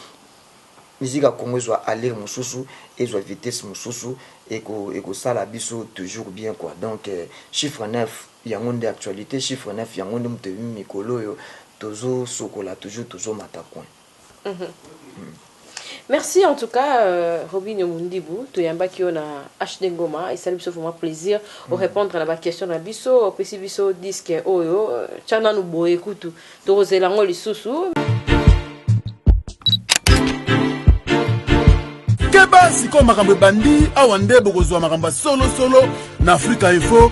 musique ya congo ezwa allure mosusu ezwa vitesse mosusu eko- ekosala biso toujours bien kua donc eh, chiffre 9 yango nde actualité chiffre 9 yango nde moto ebimi mikolo oyo tozosokola toujours tozomata coin Merci en tout cas Robinho Mundibu toyambaki yo na HD Ngoma esali biso vraiment plaisir o répondre na ba question na biso opesi biso disque oyo tya nanu boye kutu tokozela yango lisusu keba sikoyo makambo ebandi awa nde bokozwa makambo ya solosolo na afrika info